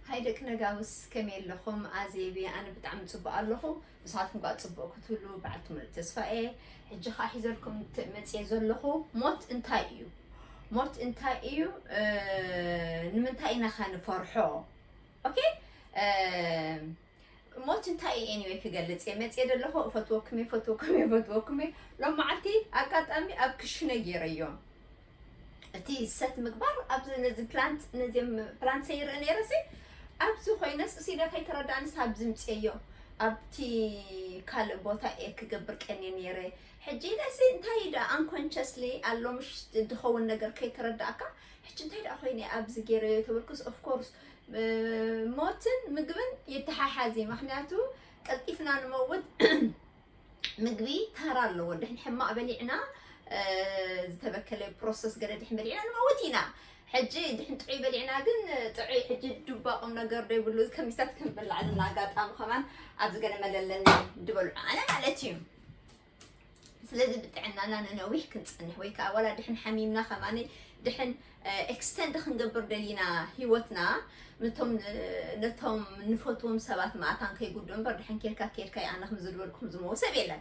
ሃይ ደቂ ነጋውስ ከመይ ኣለኹም ኣዜብየ ኣነ ብጣዕሚ ጽቡቅ ኣለኹ ንስኻትኩም ከኣ ጽቡቅ ክትብሉ በዓልቲ ሙሉእ ተስፋ እየ ሕጂ ከኣ ሒዘልኩም መጽየ ዘለኹ ሞት እንታይ እዩ ሞት እንታይ እዩ ንምንታይ ኢናኻ ንፈርሖ ኦኬ ሞት እንታይ እዩ ኤኒወይ ክገልጽ እየ መጽየ ደለኹ እፈትወኩም እየ እፈትወኩም እየ እፈትወኩም እየ ሎም መዓልቲ ኣጋጣሚ ኣብ ክሽነ ገይረዮ እቲ ሰት ምግባር ኣብዚ ነዚ ፕላንት ነዚ ፕላንት ሰይርኢ ነይረሲ ኣብዚ ኮይነስ እሲለ ከይተረዳእንስ ኣብዚ ምፅየዮ ኣብቲ ካልእ ቦታ እየ ክገብር ቀንየ ነይረ ሕጂ ኢለሲ እንታይ እዩ ደኣ ኣንኮንቸስሊ ኣሎ ምሽ ድኸውን ነገር ከይተረዳእካ ሕጂ እንታይ ደኣ ኮይነ ኣብዚ ገይረዮ ተበልኩስ ኦፍኮርስ ሞትን ምግብን ይተሓሓዝ እዩ ምክንያቱ ቀልጢፍና ንመውት ምግቢ ተራ ኣለዎ ድሕን ሕማቅ በሊዕና ዝተበከለ ፕሮሰስ ገለ ድሕን በሊዕና ንመውት ኢና ሕጂ ድሕን ጥዑይ በሊዕና ግን ጥዑይ ሕጂ ዱባ ቁም ነገር ዶ ይብሉ ከሚስታት ክንበላዕ ዘለና ኣጋጣሚ ከማን ኣብዚ ገለ መለለኒ ድበልዑ ኣነ ማለት እዩ ስለዚ ብጥዕናና ንነዊሕ ክንፀንሕ ወይ ከዓ ዋላ ድሕን ሓሚምና ከማኒ ድሕን ኤክስተንድ ክንገብር ደሊና ሂወትና ነቶም ነቶም ንፈትዎም ሰባት ማእታን ከይጉድኡ እምበር ድሕን ኬድካ ኬድካ ኣነ ከም ዝድበልኩ ከም ዝመዎ ሰብ የለን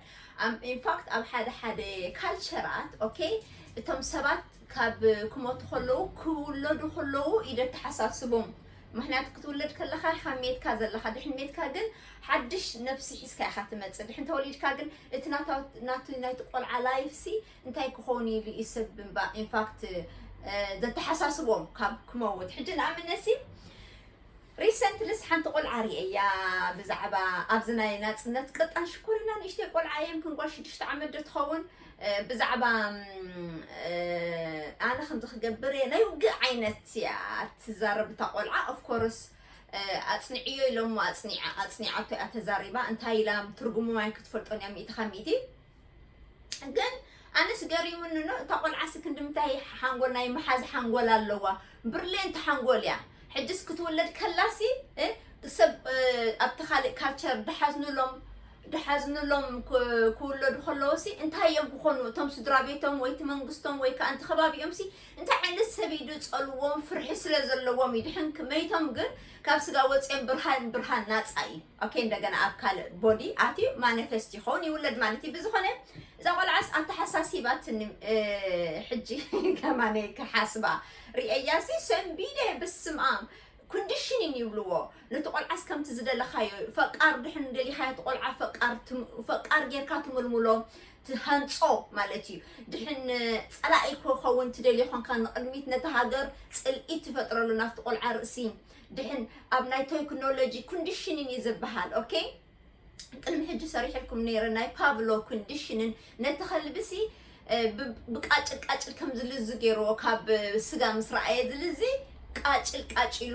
ኢንፋክት ኣብ ሓደ ሓደ ካልቸራት ኦኬ እቶም ሰባት ካብ ክሞቱ ከለዉ ክውለዱ ከለዉ ኢዩ ዘተሓሳስቦም ምክንያቱ ክትውለድ ከለካ ኢካ ሜትካ ዘለካ ድሕን ሜትካ ግን ሓድሽ ነብሲ ሒዝካ ኢካ ትመጽእ ድሕን ተወሊድካ ግን እቲ ናታ ናቲ ናይቲ ቆልዓ ላይፍ ሲ እንታይ ክኮን ኢሉ ኢዩ ሰብ እባ ኢንፋክት ዘተሓሳስቦም ካብ ክመውት ሕጂ ንኣምነሲ ሪሰንትሊስ ሓንቲ ቆልዓ ሪኤያ ብዛዕባ ኣብዚ ናይ ናጽነት ቅጣን ሽኮሪና ንእሽተይ ቆልዓ እየ ምክን ጓል ሽዱሽተ ዓመት ዶ ትኸውን ብዛዕባ ኣነ ከምዚ ክገብር እየ ናይ ውግእ ዓይነት እያ ትዛረብ እታ ቆልዓ ኦፍኮርስ ኣጽንዕዮ ኢሎሞ ኣጽኒዓ ኣጽኒዓቶ እያ ተዛሪባ እንታይ ኢላ ትርጉሙ ማይ ክትፈልጦን እያ ሚእቲ ካብ ሚእቲ ግን ኣነስ ገሪሙኒ ኖ እታ ቆልዓሲ ክንድምታይ ሓንጎል ናይ ምሓዝ ሓንጎል ኣለዋ ብርሌንቲ ሓንጎል እያ ሕጅስ ክትውለድ ከላሲ እ፣ ሰብ እ፣ ኣብቲ ካልእ ካልቸር ድሓዝኑሎም ድሓዝኑሎም ክ- ክውለዱ ከለውሲ እንታይ እዮም ክኾኑ እቶም ስድራ ቤቶም ወይ እቲ መንግስቶም ወይ ከዓ እንቲ ከባቢኦምሲ እንታይ ዓይነት ሰብ እዩ ዝፀልዎም ፍርሒ ስለ ዘለዎም እዩ ድሕን መይቶም ግን ካብ ስጋ ወፅኦም ብርሃን ብርሃን ናፃ እዩ ኦኬ እንደገና ኣብ ካልእ ቦዲ ኣትዩ ማነፈስት ይኸውን ይውለድ ማለት እዩ ብዝኾነ እዛ ቆልዓስ ኣተሓሳሲባትኒ እ፣ ሕጂ ከማነ ክሓስባ ርኤያ ሲ ሰንቢደ ብስምኣም ኮንዲሽኒን ይብልዎ ነቲ ቆልዓስ ከምቲ ዝደለኻዮ ፈቃር ድሕን ደሊኻዮ እቲ ቆልዓ ፈቃር ትም- ፈቃር ጌርካ ትምልምሎ ትሃንፆ ማለት እዩ ድሕን ፀላኢ ክኸውን ትደልዮ ኮንካ ንቕድሚት ነቲ ሃገር ፅልኢ ትፈጥረሉ ናብቲ ቆልዓ ርእሲ ድሕን ኣብ ናይ ቶይክኖሎጂ ኩንዲሽንን እዩ ዝበሃል ኦኬ ቅድሚ ሕጂ ሰሪሕልኩም ነይረ ናይ ፓቭሎ ኩንዲሽንን ነቲ ከልብሲ ብቃጭል ቃጭል ከም ዝልዝ ገይርዎ ካብ ስጋ ምስ ረኣየ ዝልዚ ቃጭል ቃጭሉ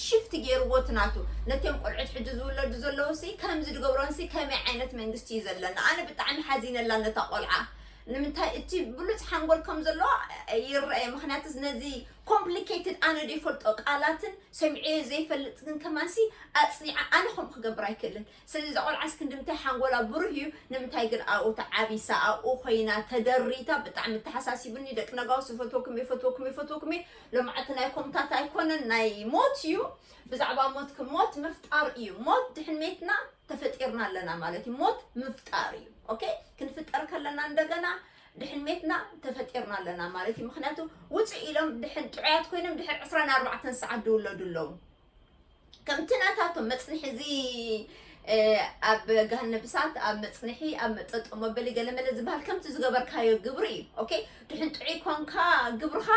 ሽፍት ገይርዎ እቲ ናቱ ነቶም ቆልዑት ሕጂ ዝውለዱ ዘለዉ ሲ ከምዚ ዝገብሮን ሲ ከመይ ዓይነት መንግስቲ እዩ ዘለና ኣነ ብጣዕሚ ሓዚነላ ነታ ቆልዓ ንምንታይ እቲ ብሉፅ ሓንጎል ከም ዘለዎ ይረአየ ምክንያቱስ ነዚ ኮምፕሊኬትድ ኣነ ዶ ይፈልጦ ቃላትን ሰሚዐዮ ዘይፈልጥ ግን ከማንሲ ኣጽኒዐ ኣነ ከምኡ ክገብር ኣይክእልን ስለዚ እዛ ቆልዓስ ክንድምታይ ሓንጎላ ብሩህ እዩ ንምንታይ ግን ኣብኡ ተዓቢሳ ኣብኡ ኮይና ተደሪታ ብጣዕሚ ኣተሓሳሲቡኒ ደቂ ነጋውስ እፈትወኩም እየ እፈትወኩም እየ እፈትወኩም እየ ሎማዕቲ ናይ ኮምታት ኣይኮነን ናይ ሞት እዩ ብዛዕባ ሞት ክ ሞት ምፍጣር እዩ ሞት ድሕን ሜትና ተፈጢርና ኣለና ማለት እዩ ሞት ምፍጣር እዩ ኦኬ ክንፍጠር ከለና እንደገና ድሕን ሜትና ተፈጢርና ኣለና ማለት እዩ ምክንያቱ ውፅእ ኢሎም ድሕን ጥዑያት ኮይኖም ድሕር ዕስራን ኣርባዕተን ሰዓት ድውለዱ ኣለዉ ከምቲ ናታቶም መፅንሒ እዚ ኣብ ገሃነብ እሳት ኣብ መፅንሒ ኣብ መጠጦ መበሊ ገለመለ ዝበሃል ከምቲ ዝገበርካዮ ግብሪ እዩ ኦኬ ድሕን ጥዑይ ኮንካ ግብርኻ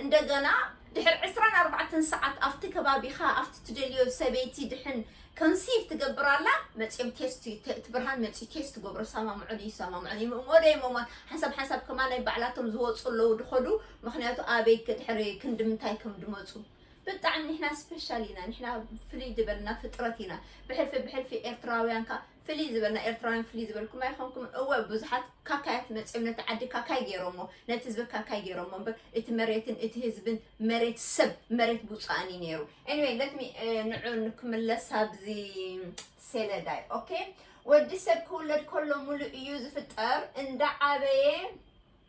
እንደገና ድሕር ዕስራን ኣርባዕተን ሰዓት ኣብቲ ከባቢኻ ኣብቲ ትደልዮ ሰበይቲ ድሕን Conceive ትገብር ኣላ መጽዮም ቴስት እቲ ብርሃን መጽዩ ቴስት ትገብሮ ይሰማምዑን ይሰማምዑን ይምእሞ ዶ ይመሟን ሓንሳብ ሓንሳብ ከማ ናይ ባዕላቶም ዝወጹ ኣለዉ ድኸዱ ምክንያቱ ኣበይ ድሕሪ ክንዲ ምንታይ ከም ድመጹ ብጣዕሚ ንሕና ስፔሻል ኢና ንሕና ፍልይ ድበልና ፍጥረት ኢና ብሕልፊ ብሕልፊ ኤርትራውያን ከኣ ፍልይ ዝበልና ኤርትራውያን ፍልይ ዝበልኩም ኣይኮንኩም እወ ብዙሓት ካካያት መፅኦም ነቲ ዓዲ ካካይ ገይሮሞ ነቲ ህዝቢ ካካይ ገይሮሞ እምበር እቲ መሬትን እቲ ህዝብን መሬት ሰብ መሬት ብፁኣን እዩ ነይሩ ኤኒዌይ ለትሚ ንዑ ንክምለስ ኣብዚ ሴለዳይ ኦኬ ወዲ ሰብ ክውለድ ከሎ ሙሉእ እዩ ዝፍጠር እንዳዓበየ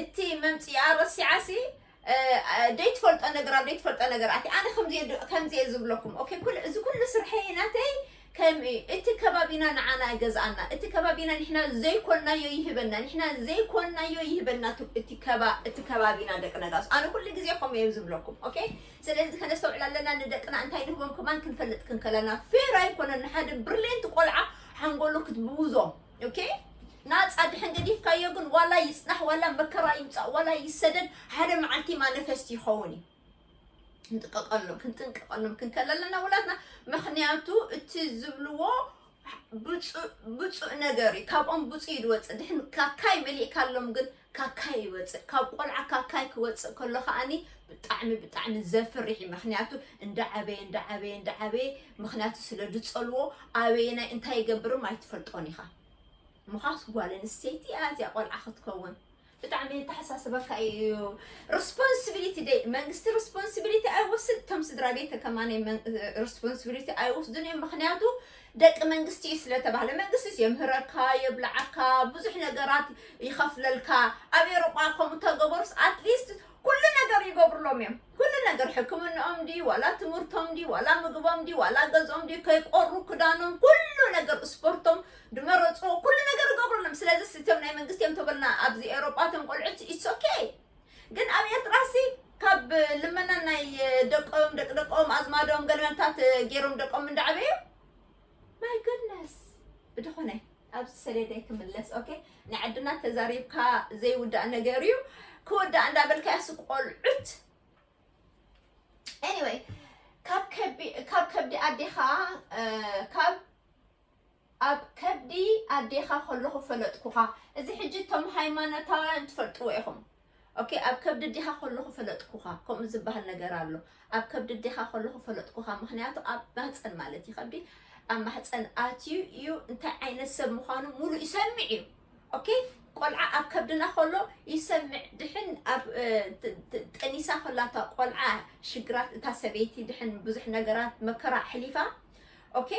እቲ መምጺኣ ረሲዓሲ ደይትፈልጦ ነገር ኣብ ደይትፈልጦ ነገር ኣቲ ኣነ ከምዚ ዝብለኩም ኦኬ ኩሉ እዚ ኩሉ ስርሐይ ናተይ ከም እቲ ከባቢና ንዓና ገዝኣና እቲ ከባቢና ንሕና ዘይኮናዮ ይህበና ንሕና ዘይኮናዮ ይህበና እቲ ከባ እቲ ከባቢና ደቂ ነጋሶ ኣነ ኩሉ ግዜ ከምኡ እየ ዝብለኩም ኦኬ ስለዚ ከነስተውዕል ኣለና ንደቅና እንታይ ንህቦም ከማን ክንፈልጥ ክንከለና ፌር ኣይኮነን ንሓደ ብርሌንት ቆልዓ ሓንጎሉ ክትብውዞም ኦኬ ናፃ ድሕን ገዲፍካዮ ግን ዋላ ይፅናሕ ዋላ መከራ ይምፃእ ዋላ ይሰደድ ሓደ መዓልቲ ማነፈስቲ ይኸውን እዩ ክንጥቀቀሎም ክንጥንቀቀሎም ክንከል ኣለና ውላትና ምክንያቱ እቲ ዝብልዎ ብፁእ ነገር እዩ ካብኦም ብፁእ እዩ ዝወፅእ ድሕን ካካይ መሊእካሎም ግን ካካይ ይወፅእ ካብ ቆልዓ ካካይ ክወፅእ ከሎ ከዓኒ ብጣዕሚ ብጣዕሚ ዘፍርሕ እዩ ምክንያቱ እንዳዓበየ እንዳዓበየ እንዳዓበየ ምክንያቱ ስለ ድፀልዎ ኣበየናይ እንታይ ይገብርም ኣይትፈልጦን ኢኻ ምዃስ ጓል ኣንስተይቲ እያ እዚኣ ቆልዓ ክትከውን ብጣዕሚ የተሓሳስበካ እዩ ሪስፖንሲቢሊቲ ደይ መንግስቲ ሪስፖንሲቢሊቲ ኣይወስድ እቶም ስድራ ቤት ከማን ሪስፖንሲቢሊቲ ኣይወስዱን እዮም ምክንያቱ ደቂ መንግስቲ እዩ ስለተባህለ መንግስቲስ የምህረካ የብልዓካ ብዙሕ ነገራት ይኸፍለልካ ኣብ ኤሮጳ ከምኡ ተገበሩስ ኣትሊስት ኩሉ ነገር ይገብርሎም እዮም ኩሉ ነገር ሕክምንኦም ድዩ ዋላ ትምህርቶም ድዩ ዋላ ምግቦም ድዩ ዋላ ገዝኦም ድዩ ከይቆሩ ክዳኖም ኩሉ ነገር ስፖርቶም ድመረፅዎ ኩሉ ነገር ይገብርሎም ስለዚ እቶም ናይ መንግስቲ እዮም ተበልና ኣብዚ ኤሮጳ እቶም ቆልዑት ኢትስ ኦኬ ግን ኣብ ኤርትራሲ ካብ ልመና ናይ ደቆም ደቂ ደቆም ኣዝማዶም ገለመልታት ገይሮም ደቆም እንዳዕበዩ ማይ ጉድነስ ብድኾነ ኣብዚ ሰሌዳይ ክምለስ ኦኬ ናይ ዓድና ተዛሪብካ ዘይውዳእ ነገር እዩ ክወዳእ እንዳበልካ ያሱ ቆልዑት ኤኒወይ ካብ ከብዲ ኣዴኻ ካብ ኣብ ከብዲ ኣዴኻ ከለኹ ፈለጥኩኻ እዚ ሕጂ እቶም ሃይማኖታውያን ትፈልጥዎ ኢኹም ኦኬ ኣብ ከብዲ ኣዴኻ ከለኹ ፈለጥኩኻ ከምኡ ዝበሃል ነገር ኣሎ ኣብ ከብዲ ኣዴኻ ከለኹ ፈለጥኩኻ ምክንያቱ ኣብ ማህፀን ማለት እዩ ከብዲ ኣብ ማህፀን ኣትዩ እዩ እንታይ ዓይነት ሰብ ምዃኑ ሙሉእ ይሰምዕ እዩ ኦኬ ቆልዓ ኣብ ከብድና ከሎ ይሰምዕ ድሕን ኣብ ጠኒሳ ከላታ ቆልዓ ሽግራት እታ ሰበይቲ ድሕን ብዙሕ ነገራት መከራ ኣሕሊፋ ኦኬ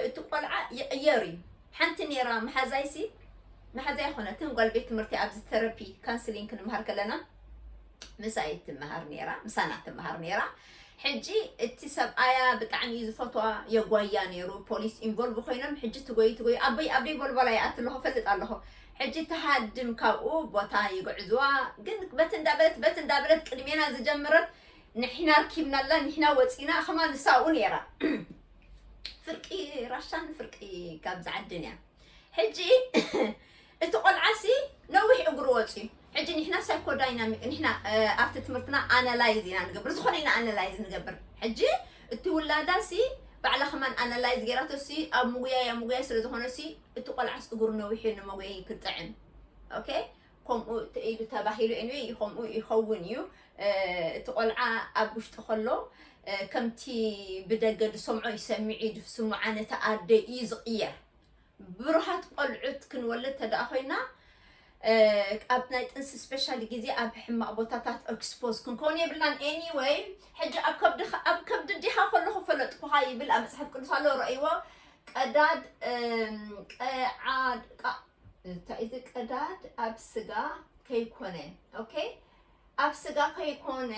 እቲ ቆልዓ ይቕየር እዩ ሓንቲ ነይራ መሓዛይሲ መሓዛ ኣይኮነትን ጓል ቤት ትምህርቲ ኣብዚ ተረፒ ካንስሊንግ ክንምሃር ከለና ምሳይ ትምሃር ነይራ ምሳና ትምሃር ነይራ ሕጂ እቲ ሰብኣያ ብጣዕሚ እዩ ዝፈትዋ የጓያ ነይሩ ፖሊስ ኢንቮልቭ ኮይኖም ሕጂ ትጎይ ትጎይ ኣበይ ኣበይ ቦልቦላ ይኣት ኣለኹ ፈልጥ ኣለኹ ሕጂ ትሃድም ካብኡ ቦታ ይግዕዝዋ ግን በቲ እንዳበለት በቲ እንዳበለት ቅድሜና ዝጀምረት ንሒና ኣርኪብናላ ንሒና ወጺና ከማ ንሳ ውን ነራ ፍርቂ ራሻን ፍርቂ ካብዚ ዓድን እያ ሕጂ እቲ ቆልዓሲ ነዊሕ እግሩ ወፅዩ ሕጂ ንሕና ሳይኮዳይናሚክ ንሕና ኣብቲ ትምህርትና ኣናላይዝ ኢና ንገብር ዝኾነ ኢና ኣናላይዝ ንገብር ሕጂ እቲ ውላዳ ሲ ባዕላ ከማን ኣናላይዝ ገይራቶ ሲ ኣብ ምጉያይ ኣብ ምጉያይ ስለ ዝኾነ ሲ እቲ ቆልዓስ እግሩ ነዊሑ ንመጉየይ ክጥዕም ኦኬ ከምኡ ኢሉ ተባሂሉ ኤኒወይ ከምኡ ይኸውን እዩ እቲ ቆልዓ ኣብ ውሽጢ ከሎ ከምቲ ብደገ ዝሰምዖ ይሰምዕ እዩ ዝስምዓ ነቲ ኣደ እዩ ዝቕየር ብሩሃት ቆልዑት ክንወልድ ተደኣ ኮይና ኣብ ናይ ጥንሲ ስፔሻሊ ግዜ ኣብ ሕማቕ ቦታታት ኤክስፖዝ ክንከውን የብልናን ኤኒወይ ሕጂ ኣብ ከብዲ ኣብ ከብዲ ዲኻ ከለኹ ፈለጥኩኻ ይብል ኣብ መጽሓፍ ቅዱስ ኣሎ ረእይዎ ቀዳድ ቀዓድ እንታይ እዚ ቀዳድ ኣብ ስጋ ከይኮነ ኦኬ ኣብ ስጋ ከይኮነ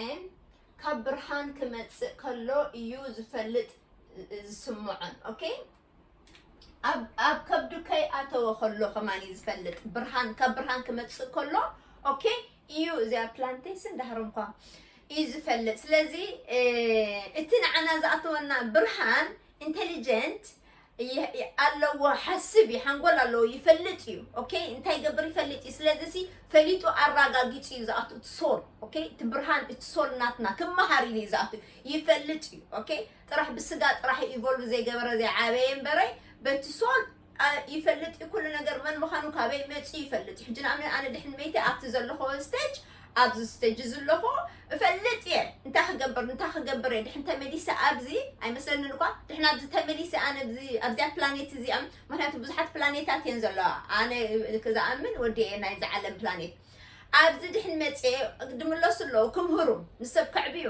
ካብ ብርሃን ክመጽእ ከሎ እዩ ዝፈልጥ ዝስምዖን ኦኬ ኣብ ከብዱ ከይኣተወ ከሎ ከማን እዩ ዝፈልጥ ብርሃን ካብ ብርሃን ክመጽእ ከሎ ኦኬ እዩ እዚኣ ፕላንቴስን ዳህሮም እኳ እዩ ዝፈልጥ ስለዚ እቲ ንዓና ዝኣተወና ብርሃን ኢንተሊጀንት ኣለዎ ሓስብ እዩ ሓንጎል ኣለዎ ይፈልጥ እዩ ኦኬ እንታይ ገብር ይፈልጥ እዩ ስለዚ ሲ ፈሊጡ ኣረጋጊፁ እዩ ዝኣቱ እቲ ሶል ኦኬ እቲ ብርሃን እቲ ሶል ናትና ክመሃር ኢሉ እዩ ዝኣቱ ይፈልጥ እዩ ኦኬ ጥራሕ ብስጋ ጥራሕ ኢቮልቭ ዘይገበረ ዘይዓበየ እምበረ በቲ ሶል ይፈልጥ እዩ ኩሉ ነገር መን ምኻኑ ካበይ መጽዩ ይፈልጥ እዩ ሕጂ ንኣብነት ኣነ ድሕን መይተ ኣብቲ ዘለኾ ስቴጅ ኣብዚ ስቴጅ ዝለኾ እፈልጥ እየ እንታይ ክገብር እንታይ ክገብር እየ ድሕን ተመሊሰ ኣብዚ ኣይመስለንን እኳ ድሕን ኣብዚ ተመሊሰ ኣነ ኣብዚያ ፕላኔት እዚኣ ምክንያቱ ብዙሓት ፕላኔታት እየን ዘለዋ ኣነ ክዝኣምን ወዲ እየ ናይ ዝዓለም ፕላኔት ኣብዚ ድሕን መጽየ ድምለሱ ኣለዉ ክምህሩ ንሰብ ከዕብዩ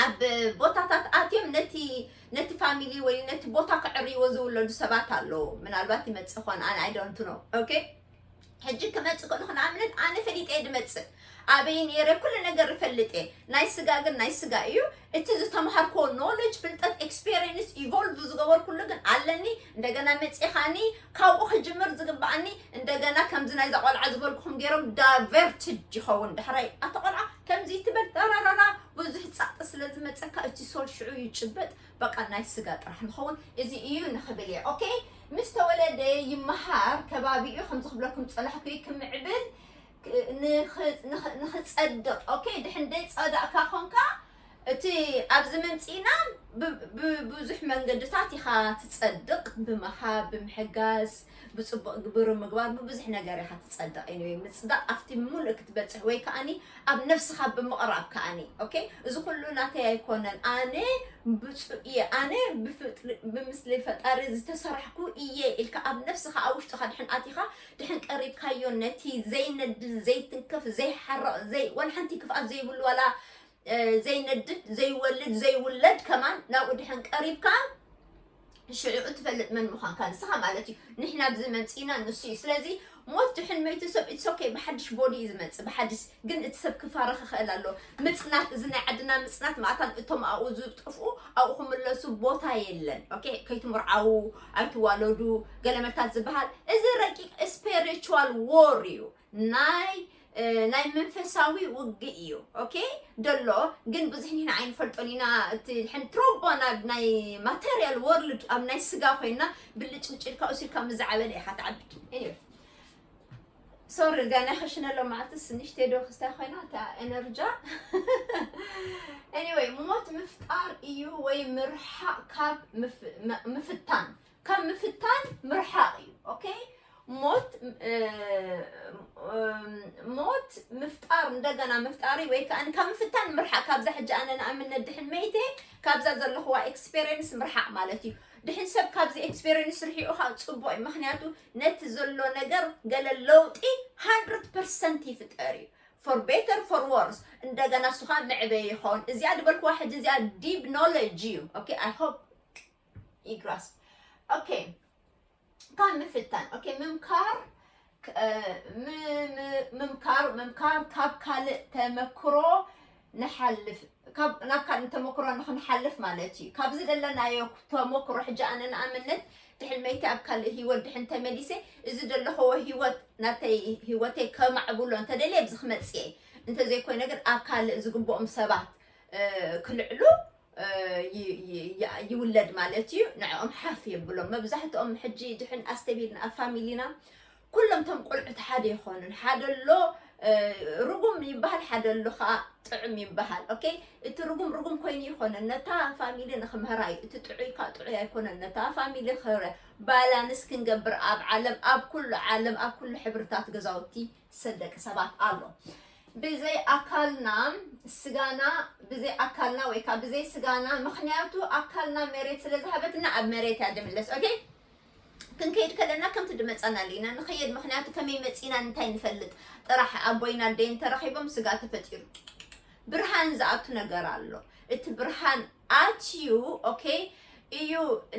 ኣብ ቦታታት ኣትዮም ነቲ ነቲ ፋሚሊ ወይ ነቲ ቦታ ከዕርይዎ ዝውለዱ ሰባት ኣለዉ ምናልባት ይመፅእ ኾን ኣነ ኣይዶንት ኖ ኦኬ ሕጂ ክመፅእ ከሉ ንኣብነት ኣነ ፈሊጠ እየ ድመፅእ ኣበይ ነይረ ኩሉ ነገር እፈልጥ እየ ናይ ስጋ ግን ናይ ስጋ እዩ እቲ ዝተምሃርክዎ ኖሌጅ ፍልጠት ኤክስፔሪንስ ኢቮልቭ ዝገበርኩሉ ግን ኣለኒ እንደገና መፂኻኒ ካብኡ ክጅምር ዝግባኣኒ እንደገና ከምዚ ናይዛ ቆልዓ ዝበልኩም ገይሮም ዳቨርትድ ይኸውን ዳሕራይ ኣቲ ቆልዓ ከምዚ ትበል ራራራ ብዙሕ ጸቕጢ ስለ ዝመጸካ እቲ ሶል ሽዑ ይጭበጥ በቃ ናይ ስጋ ጥራሕ ንኸውን እዚ እዩ ንኽብል እየ ኦኬ ምስ ተወለደ ይመሃር ከባቢኡ ከምዚ ክብለኩም ዝጸናሕኩ ክምዕብል ንኽጸድቕ ኦኬ ድሕን ደይ ጸዳእካ ኮንካ እቲ ኣብዚ ምምፂእና ብብዙሕ መንገድታት ኢኻ ትጸድቕ ብምሃብ ብምሕጋዝ ብጽቡቕ ግብሪ ምግባር ብብዙሕ ነገር ኢኻ ትጸድቕ anyway ምጽዳቕ ኣብቲ ምሉእ ክትበጽሕ ወይ ከኣኒ ኣብ ነፍስኻ ብምቕራብ ከኣኒ okay እዚ ኩሉ ናተይ ኣይኮነን ኣነ ብጹእ እየ ኣነ ብፍጥሪ ብምስሊ ፈጣሪ ዝተሰራሕኩ እየ ኢልካ ኣብ ነፍስኻ ኣብ ውሽጥኻ ድሕን ኣቲኻ ድሕን ቀሪብካዮ ነቲ ዘይነድድ ዘይትንከፍ ዘይሓርቕ ዘይ ወላ ሓንቲ ክፍኣት ዘይብሉ ዋላ እ፣ ዘይነድድ ዘይወልድ ዘይውለድ ከማን ናብኡ ድሕን ቀሪብካ ሽዑ እትፈልጥ መን ምዃንካ ንስኻ ማለት እዩ ንሕና ብዚ መምፅእና ንሱ እዩ ስለዚ ሞት ድሕን መይቲ ሰብ ኢትሶኬ ብሓድሽ ቦዲ እዩ ዝመፅእ ብሓድሽ ግን እቲ ሰብ ክፋረ ክኽእል ኣሎ ምፅናት እዚ ናይ ዓድና ምፅናት ማእታን እቶም ኣብኡ ዝጠፍኡ ኣብኡ ክምለሱ ቦታ የለን ኦኬ ከይትምርዓዉ ኣይትዋለዱ ገለመታት ዝበሃል እዚ ረቂቅ ስፔሪቹዋል ዎር እዩ ናይ ናይ መንፈሳዊ ውግእ እዩ ኦኬ ደሎ ግን ብዙሕ ኒሕና ኣይንፈልጦን ኢና እቲ ሕን ትሮቦ ናብ ናይ ማተርያል ወርልድ ኣብ ናይ ስጋ ኮይና ብልጭ ብጭ ኢልካ ውሲድካ ምስ ዝዓበለ ኢኻ ትዓብድ እዩ ሶሪ ገና ክሽነሎ መዓልትስ ንሽተ ዶ ክስታይ ኮይና እታ ኤነርጃ ኤኒወይ ሞት ምፍጣር እዩ ወይ ምርሓቕ ካብ ምፍታን ካብ ምፍታን ምርሓቕ እዩ ኦኬ ሞት ሞት ምፍጣር እንደገና ምፍጣሪ ወይ ከዓ ካብ ምፍታን ምርሓቅ ካብዛ ሕጂ ኣነ ንኣብነት ድሕን መይተ ካብዛ ዘለኹዋ ኤክስፔሪንስ ምርሓቅ ማለት እዩ ድሕን ሰብ ካብዚ ኤክስፔሪንስ ርሒቑ ከዓ ፅቡቅ እዩ ምክንያቱ ነቲ ዘሎ ነገር ገለ ለውጢ 100 ፐርሰንት ይፍጠር እዩ ፎር ቤተር ፎር ወርስ እንደገና እሱ ከዓ መዕበይ ይኸውን እዚኣ ድበልኩዋ ሕጂ እዚኣ ዲብ ኖሌጅ እዩ ኦኬ ኣይ ሆፕ ይግራስ ኦኬ ካብ ምፍታን ኦኬ ምምካር ክ- እ፣ ም- ም- ምምካር ምምካር ካብ ካልእ ተመክሮ ንሓልፍ ካብ ናብ ካልእ ተመክሮ ንክንሓልፍ ማለት እዩ ካብዚ ዘለናዮ ተመክሮ ሕጂ ኣነ ንኣብነት ድሕን መይቲ ኣብ ካልእ ሂወት ድሕን ተመሊሰ እዚ ዘለኽዎ ሂወት ናተይ ሂወተይ ከማዕብሎ እንተደልየ ኣብዚ ክመፅእ እየ እንተዘይኮይነ ግን ኣብ ካልእ ዝግብኦም ሰባት እ፣ ክልዕሉ ይውለድ ማለት እዩ ንዕኦም ሓፍ የብሎም መብዛሕትኦም ሕጂ ድሕን ኣስተቢልና ኣብ ፋሚሊና ኩሎም ቶም ቆልዑት ሓደ ይኾኑን ሓደ ኣሎ ርጉም ይበሃል ሓደ ኣሎ ከዓ ጥዑም ይበሃል ኦኬ እቲ ርጉም ርጉም ኮይኑ ይኮነ ነታ ፋሚሊ ንክምህራ እዩ እቲ ጥዑይ ከዓ ጥዑይ ኣይኮነን ነታ ፋሚሊ ክህረ ባላንስ ክንገብር ኣብ ዓለም ኣብ ኩሉ ዓለም ኣብ ኩሉ ሕብርታት ገዛውቲ ሰብ ደቂ ሰባት ኣሎ ብዘይ ኣካልና ስጋና ብዘይ ኣካልና ወይ ከዓ ብዘይ ስጋና ምክንያቱ ኣካልና መሬት ስለ ዝሃበትና ኣብ መሬት እያ ድምለስ ኦኬ ክንከይድ ከለና ከምቲ ድመፃና ኣለና ንኸየድ ምክንያቱ ከመይ መፂና እንታይ ንፈልጥ ጥራሕ ኣቦይን ኣደይን ተረኺቦም ስጋ ተፈጢሩ ብርሃን ዝኣቱ ነገር ኣሎ እቲ ብርሃን ኣትዩ ኦኬ እዩ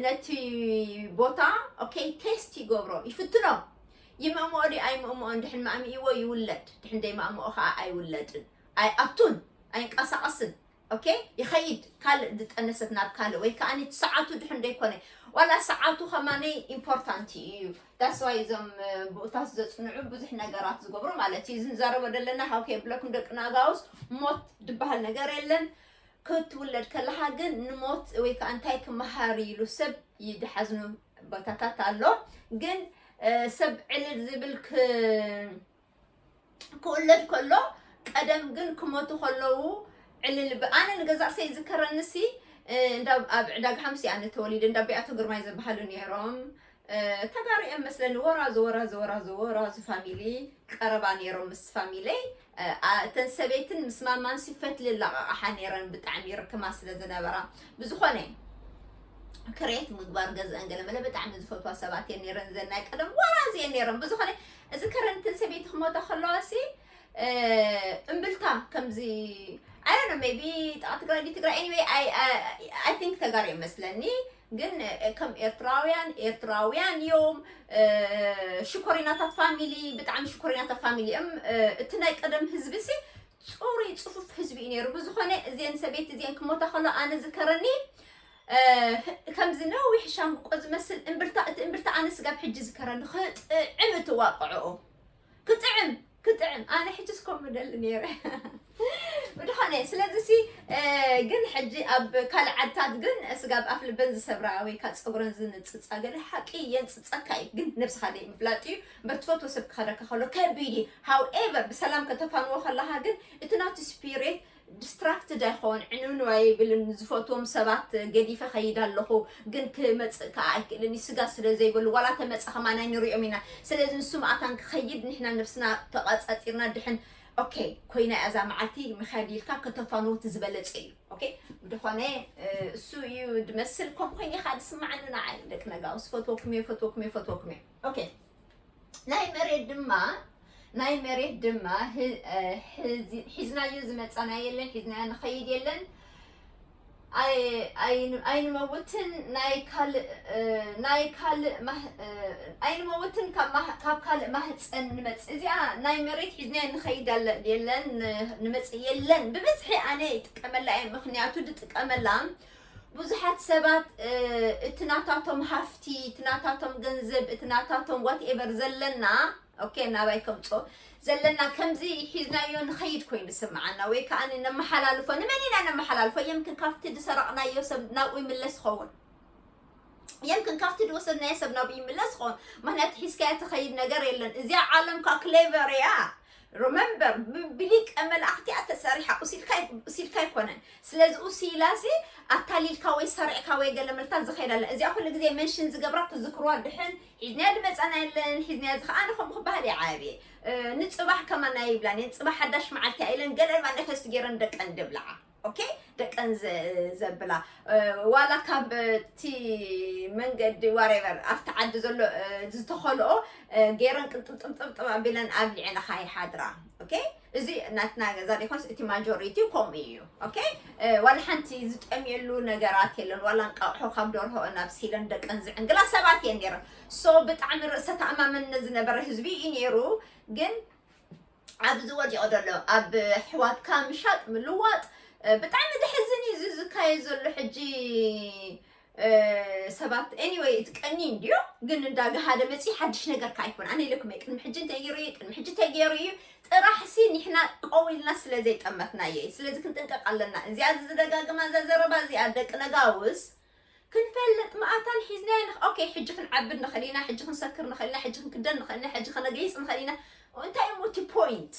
ነቲ ቦታ ኦኬ ቴስት ይገብሮ ይፍትኖ ይምእምኦ ድዩ ኣይምእምኦን ድሕን ማእሚኢዎ ይውለድ ድሕን ደይማእምኦ ከኣ ኣይውለድን ኣይኣቱን ኣይንቀሳቀስን ኦኬ ይኸይድ ካልእ ዝጠነሰት ናብ ካልእ ወይ ከኣ እቲ ሰዓቱ ድሕን ደይኮነ ዋላ ሰዓቱ ከማነይ ኢምፖርታንት እዩ ዳስዋይ እዞም ብኡታት ዘጽንዑ ብዙሕ ነገራት ዝገብሩ ማለት እዩ ዝንዛረቦ ዘለና ሃውከ የብለኩም ደቂ ናጋውስ ሞት ድበሃል ነገር የለን ክትውለድ ከለካ ግን ንሞት ወይ ከዓ እንታይ ክመሃር ኢሉ ሰብ ይድሓዝኑ ቦታታት ኣሎ ግን ሰብ ዕልል ዝብል ክውለድ ከሎ ቀደም ግን ክሞቱ ከለዉ ዕልል ኣነ ንገዛ ርእሰይ ይዝከረንሲ እንዳ ኣብ ዕዳጋ ሓምሲ ኣነ ተወሊደ እንዳ ቢኣቶ ግርማይ ዝበሃሉ ነይሮም ተጋሩ እዮም መስለኒ ወራዙ ወራዙ ወራዙ ወራዙ ፋሚሊ ቀረባ ነይሮም ምስ ፋሚለይ እተን ሰበይትን ምስ ማማንሲ ፈትሊ ላቃቃሓ ነይረን ብጣዕሚ ይርክማ ስለ ዝነበራ ብዝኾነ ክሬት ምግባር ገዝአን ገለመለ ብጣዕሚ ዝፈትዋ ሰባት እየን ነይረን እዘን ናይ ቀደም ወራዝ እየን ነይረን ብዝኾነ እዚ ከረንትን ሰበይቲ ክሞታ ከለዋሲ እምብልታ ከምዚ ኣይነ ሜቢ ጣ ትግራይ ዲ ትግራይ ኤኒዌይ ኣይ ቲንክ ተጋር እዮም መስለኒ ግን ከም ኤርትራውያን ኤርትራውያን እዮም ሽኮሪናታት ፋሚሊ ብጣዕሚ ሽኮሪናታት ፋሚሊ እዮም እቲ ናይ ቀደም ህዝቢ ሲ ፅሩይ ፅፉፍ ህዝቢ እዩ ነይሩ ብዝኾነ እዚን ሰበይቲ እዚን ክሞታ ከሎ ኣነ ዝከረኒ ከምዚ ነዊሕ ሻምብቆ ዝመስል እምብርታ እቲ እምብርታ ኣነ ስጋብ ሕጂ ዝከረኒ ክጥዕም እትዋቅዕኦ ክጥዕም ክጥዕም ኣነ ሕጅስ ከምኡ ደሊ ነይረ ብድኾነ ስለዚ ሲ ግን ሕጂ ኣብ ካልእ ዓድታት ግን ስጋ ኣብ ኣፍ ልበን ዝሰብራ ወይ ካብ ፀጉረን ዝንፅፃ ገለ ሓቂ የንፅፀካ እዩ ግን ነብስኻ ደይ ምፍላጥ እዩ እምበር ትፈትዎ ሰብ ክኸደካ ከሎ ከቢድ እዩ ሃውኤቨር ብሰላም ከተፋንዎ ከለኻ ግን እቲ ናቱ ስፒሪት ዲስትራክትድ ኣይኮን ዕንውንው ኣይብልን ዝፈትዎም ሰባት ገዲፈ ከይድ ኣለኹ ግን ክመፅእ ከዓ ኣይክእልን እዩ ስጋ ስለ ዘይበሉ ዋላ ተመፀ ከማን ኣይንሪኦም ኢና ስለዚ ንሱ መኣታን ክኸይድ ንሕና ነብስና ተቐፃፂርና ድሕን ኦኬ ኮይና እያ እዛ መዓልቲ ምክያድ ኢልካ ከተፋንዎ እቲ ዝበለፀ እዩ ኦኬ ብድኾነ እሱ እዩ ድመስል ከምኡ ኮይነ ኢኻ ዝስማዓኒ ንዓይ ደቂ ነጋውስ ፈትወኩም እየ ፈትወኩም እየ ፈትወኩም እየ ኦኬ ናይ መሬት ድማ ናይ መሬት ድማ ሒዝናዮ ዝመፃና የለን ሒዝናዮ ንኸይድ የለን ኣይንመውትን ናይ ካልእ ናይ ካልእ ኣይንመውትን ካብ ካልእ ማህፀን ንመፅእ እዚኣ ናይ መሬት ሒዝናዮ ንኸይድ የለን ንመፅእ የለን ብብዝሒ ኣነ ይጥቀመላ እየ ምክንያቱ ድጥቀመላ ብዙሓት ሰባት እቲ ናታቶም ሃፍቲ፣ እቲ ናታቶም ገንዘብ፣ እቲ ናታቶም ዋትኤቨር ዘለና ኦኬ ናባይ ከምፅኦ ዘለና ከምዚ ሒዝናዮ ንኸይድ ኮይኑ ዝስምዓና ወይ ከዓ ነመሓላልፎ ንመን ኢና ነመሓላልፎ የምክን ካብቲ ዝሰረቕናዮ ሰብ ናብኡ ይምለስ ይኸውን የምክን ካብቲ ዝወሰድናዮ ሰብ ናብኡ ይምለስ ይኸውን ምክንያቱ ሒዝካዮ ትኸይድ ነገር የለን እዚኣ ዓለም ካ ክሌቨር እያ ረመምበር ብሊቀ መላእክት እያ ተሰሪሓ ኡስ ኢልካ ኣይኮነን ስለዚ ኡስ ኢላሲ ኣታሊልካ ወይ ሰሪዕካ ወይ ገለ መልታ ዝኸይድ ኣለ እዚኣ ኩሉ ግዜ መንሽን ዝገብራ ትዝክርዋ ድሕን ሒዝናያ ድመጻና የለን ሒዝናያ እዚ ከኣ ንኸምኡ ክበሃል ይዓብየ ንጽባሕ ከማና ይብላን እየን ጽባሕ ሓዳሽ መዓልቲ እያ ኢለን ገለ እባ ነፈስቲ ገይረን ደቀን ድብልዓ ኦኬ ደቀን ዘብላ ዋላ ካብቲ መንገዲ ዋሬቨር ኣብቲ ዓዲ ዘሎ ዝተኸልኦ ገይረን ቅንጥብጥብጥብጥብ ኣቢለን ኣብሊዐናኻ ይሓድራ ኦኬ እዚ ናትና ገዛ ዲኮስ እቲ ማጆሪቲ ከምኡ እዩ ኦኬ ዋላ ሓንቲ ዝጠምየሉ ነገራት የለን ዋላ እንቃቑሖ ካብ ደርሆ ናብ ሲለን ደቀን ዝዕንግላ ሰባት እየን ነይረን ሶ ብጣዕሚ ርእሰ ተኣማመንነት ዝነበረ ህዝቢ እዩ ነይሩ ግን ኣብዚ ወዲቁ ዘሎ ኣብ ኣሕዋትካ ምሻጥ ምልዋጥ ብጣዕሚ ዘሕዝን እዩ እዚ ዝካየድ ዘሎ ሕጂ ሰባት ኤኒወይ እቲ ቀኒ እንድዮ ግን እንዳ ገሃደ መፅዩ ሓድሽ ነገር ከዓ ኣይኮነ ኣነ ኢለኩም ቅድሚ ሕጂ እንታይ ገይሩ እዩ ቅድሚ ሕጂ እንታይ ገይሩ እዩ ጥራሕሲ ንሕና ቀው ኢልና ስለ ዘይጠመትናዮ እዩ ስለዚ ክንጥንቀቅ ኣለና እዚኣ ዝደጋግማ እዛ ዘረባ እዚኣ ደቂ ነጋውስ ክንፈልጥ መኣታን ሒዝናዮ ንኽ ኦኬ ሕጂ ክንዓብድ ንኽእል ኢና ሕጂ ክንሰክር ንኽእል ኢና ሕጂ ክንክደን ንኽእል ኢና ሕጂ ከነገይጽ ንኽእል ኢና እንታይ እሞ እቲ ፖይንት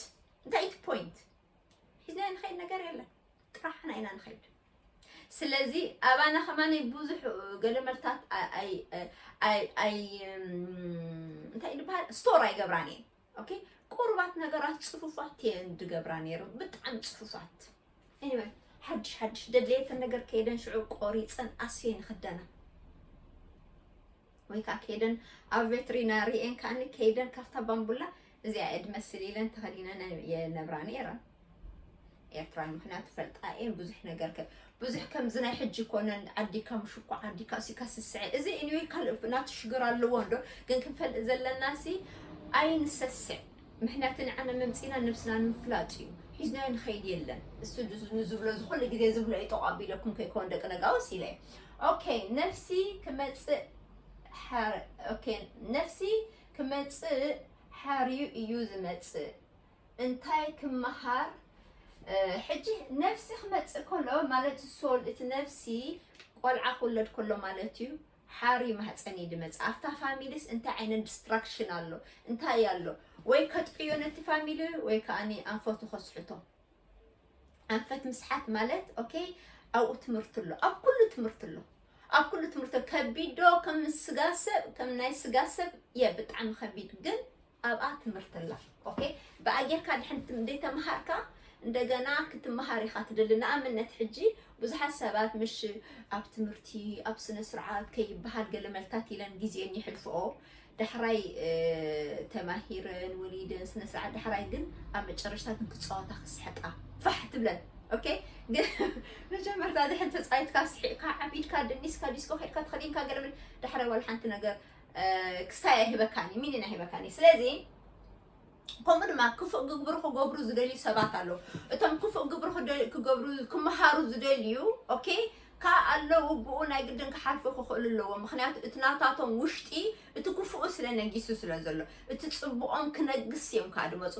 እንታይ እቲ ፖይንት ሒዝናዮ ንኸይድ ነገር የለን ጥራሕና ኢና ንኸይድ ስለዚ ኣባና ከማነይ ብዙሕ ገለመልታት ኣይ ኣይ ኣይ እንታይ ይበሃል ስቶር ኣይገብራን እየን ኦኬ ቁሩባት ነገራት ጽፉፋት እየን ድገብራ ነይረን ብጣዕሚ ጽፉፋት ኤኒወይ ሓድሽ ሓድሽ ደድልየተን ነገር ከይደን ሽዑ ቆሪፀን ኣስፌን ይኽደና ወይ ከዓ ከይደን ኣብ ቬትሪናሪኤን ከዓኒ ከይደን ካብታ ባምቡላ እዚኣ እየ ድመስል ኢለን ተኸዲነን የነብራ ነይረን ኤርትራ ምክንያቱ ፈልጣ እየ ብዙሕ ነገር ብዙሕ ከምዚ ናይ ሕጂ ኮነን ዓዲካ ምሽኮ ዓዲካ ሲካ ስስዐ እዚ ኢንወ ካልእ ናቱ ሽግር ኣለዎ እንዶ ግን ክንፈልጥ ዘለና ሲ ኣይንሰስዕ ምክንያቱ ንዓነ መምፂና ነብስና ንምፍላጥ እዩ ሒዝናዮ ንኸይድ የለን እሱ ንዝብሎ ዝኩሉ ግዜ ዝብሎ እዩ ጠቋ ቢለኩም ከይኮን ደቂ ነጋውስ ኢለ ኦኬ ነፍሲ ክመፅእ ኦኬ ነፍሲ ክመፅእ ሓርዩ እዩ ዝመፅእ እንታይ ክመሃር ሕጂ ነፍሲ ክመጽእ ከሎ ማለት ሶል እቲ ነፍሲ ቆልዓ ክውለድ ከሎ ማለት እዩ ሓሪ ማህፀን እዩ ድመፅ ኣብታ ፋሚሊስ እንታይ ዓይነት ዲስትራክሽን ኣሎ እንታይ ኣሎ ወይ ከጥቅዮ ነቲ ፋሚሊ ወይ ከዓ ኣንፈቱ ከስሕቶ ኣንፈት ምስሓት ማለት ኦኬ ኣብኡ ትምህርቲ ኣሎ ኣብ ኩሉ ትምህርቲ ኣሎ ኣብ ኩሉ ትምህርቲ ከቢድ ዶ ከም ስጋ ሰብ ከም ናይ ስጋ ሰብ የ ብጣዕሚ ከቢድ ግን ኣብኣ ትምህርቲ ኣላ ok ብኣ ጌርካ ድሕን ትምደይ ተማሃርካ እንደገና ክትማሃር ኢኻ ትደሊ ንኣምነት ሕጂ ብዙሓት ሰባት ምሽ ኣብ ትምህርቲ ኣብ ስነ ስርዓት ከይብሃል ገለ መልታት ኢለን ግዜን ይሕልፍኦ ዳሕራይ ተማሂረን ወሊደን ስነ ስርዓት ዳሕራይ ግን ኣብ መጨረሽታ ግን ክጻወታ ክስሕቃ ፋሕ ትብለን ኦኬ ግን መጀመርታ ድሕን ተጻይትካ ስሒቕካ ዓቢድካ ደኒስካ ዲስኮ ከድካ ተኸዲንካ ገለ ዳሕራይ ዋላ ሓንቲ ነገር ክስታይ ኣይህበካን እዩ ሚኒን ኣይህበካን እዩ ስለዚ ከምኡ ድማ ክፉእ ግብሪ ክገብሩ ዝደልዩ ሰባት ኣለዉ እቶም ክፉእ ግብሪ ክደ- ክገብሩ ክመሃሩ ዝደልዩ ኦኬ ካብ ኣለዉ ብኡ ናይ ግድን ክሓልፉ ክኽእሉ ኣለዎም ምክንያቱ እቲ ናታቶም ውሽጢ እቲ ክፉኡ ስለ ነጊሱ ስለ ዘሎ እቲ ፅቡቆም ክነግስ እዮም ከዓ ድመፁ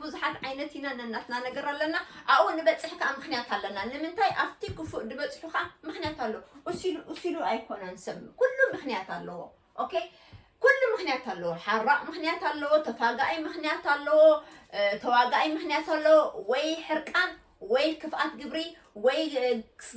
ብዙሓት ዓይነት ኢና ነናትና ነገር ኣለና ኣብኡ ንበፅሕ ከዓ ምክንያት ኣለና ንምንታይ ኣብቲ ክፉእ ዝበፅሑ ከዓ ምክንያት ኣሎ እሲሉ እሲሉ ኣይኮነን ሰብ ኩሉ ምክንያት ኣለዎ ኦኬ ኩሉ ምክንያት ኣለዎ ሓራቕ ምክንያት ኣለዎ ተፋጋኢ ምክንያት ኣለዎ ተዋጋኢ ምክንያት ኣለዎ ወይ ሕርቃን ወይ ክፍኣት ግብሪ ወይ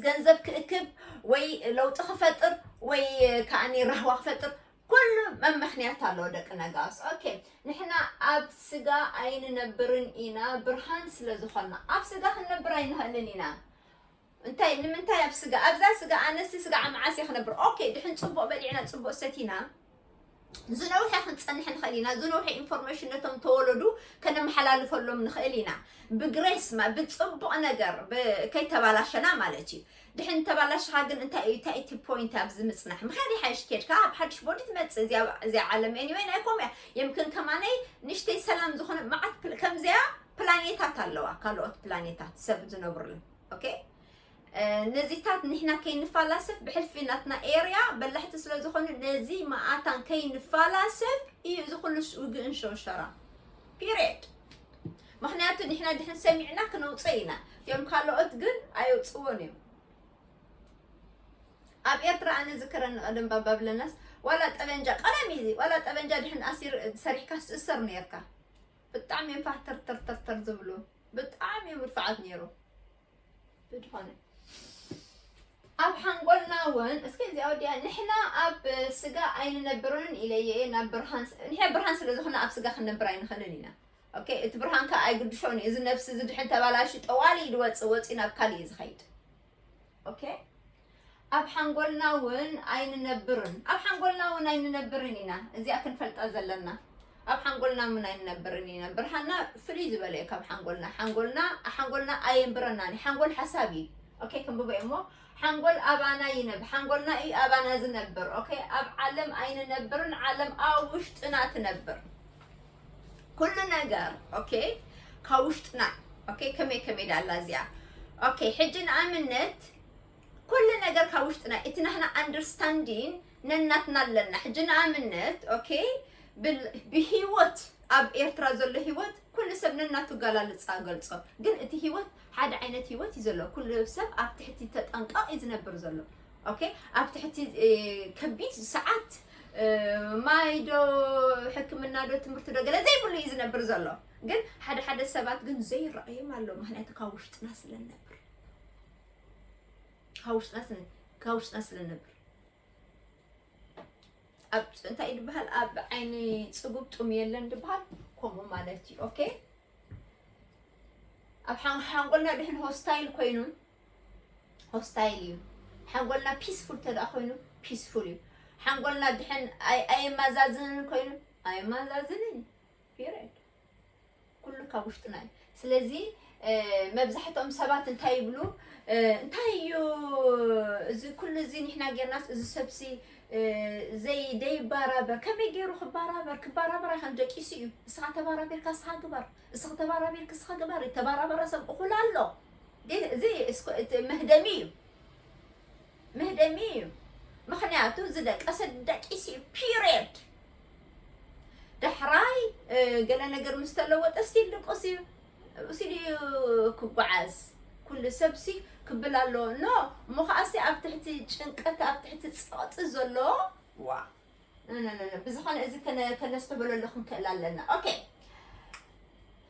ገንዘብ ክእክብ ወይ ለውጢ ክፈጥር ወይ ከዓኒ ራህዋ ክፈጥር ኩሉ መመኽንያት ኣለዎ ደቂ ነጋስ ኦኬ ንሕና ኣብ ስጋ ኣይንነብርን ኢና ብርሃን ስለ ዝኾና ኣብ ስጋ ክንነብር ኣይንኽእልን ኢና እንታይ ንምንታይ ኣብ ስጋ ኣብዛ ስጋ ኣነሲ ስጋ ዓመዓስ እየ ክነብር ኦኬ ድሕን ፅቡቅ በሊዕና ፅቡቅ ሰቲና ዝነውሐ ክንፀንሕ ንኽእል ኢና ዝነውሐ ኢንፎርሜሽን ነቶም ተወለዱ ከነመሓላልፈሎም ንኽእል ኢና ብግሬስማ ብፅቡቕ ነገር ከይተባላሸና ማለት እዩ ድሕን እንተባላሽኻ ግን እንታይ እዩ እንታይ እቲ ፖይንት ኣብዚ ምጽናሕ ምክያድ ይሓይሽ ኬድካ ኣብ ሓድሽ ቦዲ ትመጽእ እዚኣ እዚኣ ዓለም ኤኒወይ ናይ ኮምያ የምክን ከማነይ ንሽተይ ሰላም ዝኾነ መዓት ፕል- ከምዚኣ ፕላኔታት ኣለዋ ካልኦት ፕላኔታት ሰብ ዝነብሩለን ኦኬ ነዚታት ንሕና ከይንፋላሰፍ ብሕልፊ ናትና ኤርያ በላሕቲ ስለ ዝኾኑ ነዚ መኣታን ከይንፋላሰፍ እዩ እዚ ኩሉ ውግእን ሸውሸራ ፒሪየድ ምክንያቱ ንሕና ድሕን ሰሚዕና ክነውፀ ኢና እትኦም ካልኦት ግን ኣየውፅዎን እዮም ኣብ ኤርትራ ኣነ ዝከረኒ ቀደም ባባብለናስ ዋላ ጠበንጃ ቀደም እዩ ዋላ ጠበንጃ ድሕን ኣሲር ሰሪሕካ ትእሰር ነርካ ብጣዕሚ እዮም ፋሕ ተርተርተርተር ዝብሉ ብጣዕሚ እዮም ርፍዓት ነይሩ ብድኾነ ኣብ ሓንጎልና እውን እስከ እዚኣ ወዲያ ንሕና ኣብ ስጋ ኣይንነብርን ኢለየ ናብ ብርሃን ንሕና ብርሃን ስለ ዝኾነ ኣብ ስጋ ክንነብር ኣይንኽእልን ኢና ኦኬ እቲ ብርሃን ከ ኣይግድሾን እዩ እዚ ነብሲ እዚ ድሕን ተባላሹ ጠዋሊ እዩ ድወፅ ወፂ ናብ ካልእ እዩ ዝኸይድ ኦኬ ኣብ ሓንጎልና እውን ኣይንነብርን ኣብ ሓንጎልና እውን ኣይንነብርን ኢና እዚኣ ክንፈልጣ ዘለና ኣብ ሓንጎልና እውን ኣይንነብርን ኢና ብርሃና ፍልይ ዝበለ እዩ ካብ ሓንጎልና ሓንጎልና ሓንጎልና ኣየንብረናን እዩ ሓንጎል ሓሳብ እዩ ኦኬ ክንብቦ እዩ እሞ ሓንጎል ኣባና ይነብ ሓንጎልና እዩ ኣባና ዝነብር ኦኬ ኣብ ዓለም ኣይንነብርን ዓለም ኣብ ውሽጥና ትነብር ኩሉ ነገር ኦኬ ካብ ውሽጥና ኦኬ ከመይ ከመይ ዳላ እዚኣ ኦኬ ሕጂ ንኣብነት ኩሉ ነገር ካብ ውሽጥና እቲ ናህና ኣንደርስታንዲን ነናትና ኣለና ሕጂ ንኣብነት ኦኬ ብሂወት ኣብ ኤርትራ ዘሎ ሂወት ኩሉ ሰብ ነናቱ ጋላልፃ ገልፆ ግን እቲ ሂወት ሓደ ዓይነት ሂወት እዩ ዘሎ ኩሉ ሰብ ኣብ ትሕቲ ተጠንቀቕ እዩ ዝነብር ዘሎ ኦኬ ኣብ ትሕቲ ከቢድ ሰዓት ማይ ዶ ሕክምና ዶ ትምህርቲ ዶ ገለ ዘይብሉ እዩ ዝነብር ዘሎ ግን ሓደ ሓደ ሰባት ግን ዘይረኣዮም ኣሎ ምክንያቱ ካብ ውሽጥና ስለነብር ካብ ውሽጥና ስለ- ካብ ውሽጥና ስለነብር ኣብ እንታይ እዩ ዝበሃል ኣብ ዓይኒ ፅጉብ ጡም የለን ዝበሃል ከምኡ ማለት እዩ ኦኬ ኣብ ሓን- ሓንጎልና ድሕን ሆስታይል ኮይኑ ሆስታይል እዩ ሓንጎልና ፒስፉል ተደኣ ኮይኑ ፒስፉል እዩ ሓንጎልና ድሕን ኣየማዛዝንን ኮይኑ ኣየማዛዝንን ፒሪድ ኩሉ ካብ ውሽጥና እዩ ስለዚ መብዛሕትኦም ሰባት እንታይ ይብሉ እንታይ እዩ እዚ ኩሉ እዚ ንሕና ጌርናስ እዚ ሰብሲ ዘይደይባራበር ከመይ ገይሩ ክባራበር ክባራበር ኣይከን ደቂሱ እዩ ንስኻ ተባራቢርካ ንስኻ ግበር እስኺ ተባራቢር ክስኺ ግበሪ ተባራበረ ሰብ እኹል ኣሎ ግን እዚ መህደሚ እዩ መህደሚ እዩ ምክንያቱ ዝደቀሰ ደቂስ እዩ ፒሪየድ ዳሕራይ ገለ ነገር ምስ ተለወጠ ስቲል ድቁስ እዩ ሲዲ ክጓዓዝ ኩሉ ሰብሲ ክብል ኣሎ ኖ እሞ ከዓሲ ኣብ ትሕቲ ጭንቀት ኣብ ትሕቲ ፀቕጢ ዘሎ ዋ ብዝኾነ እዚ ከነስተበለሉ ክንክእል ኣለና ኦኬ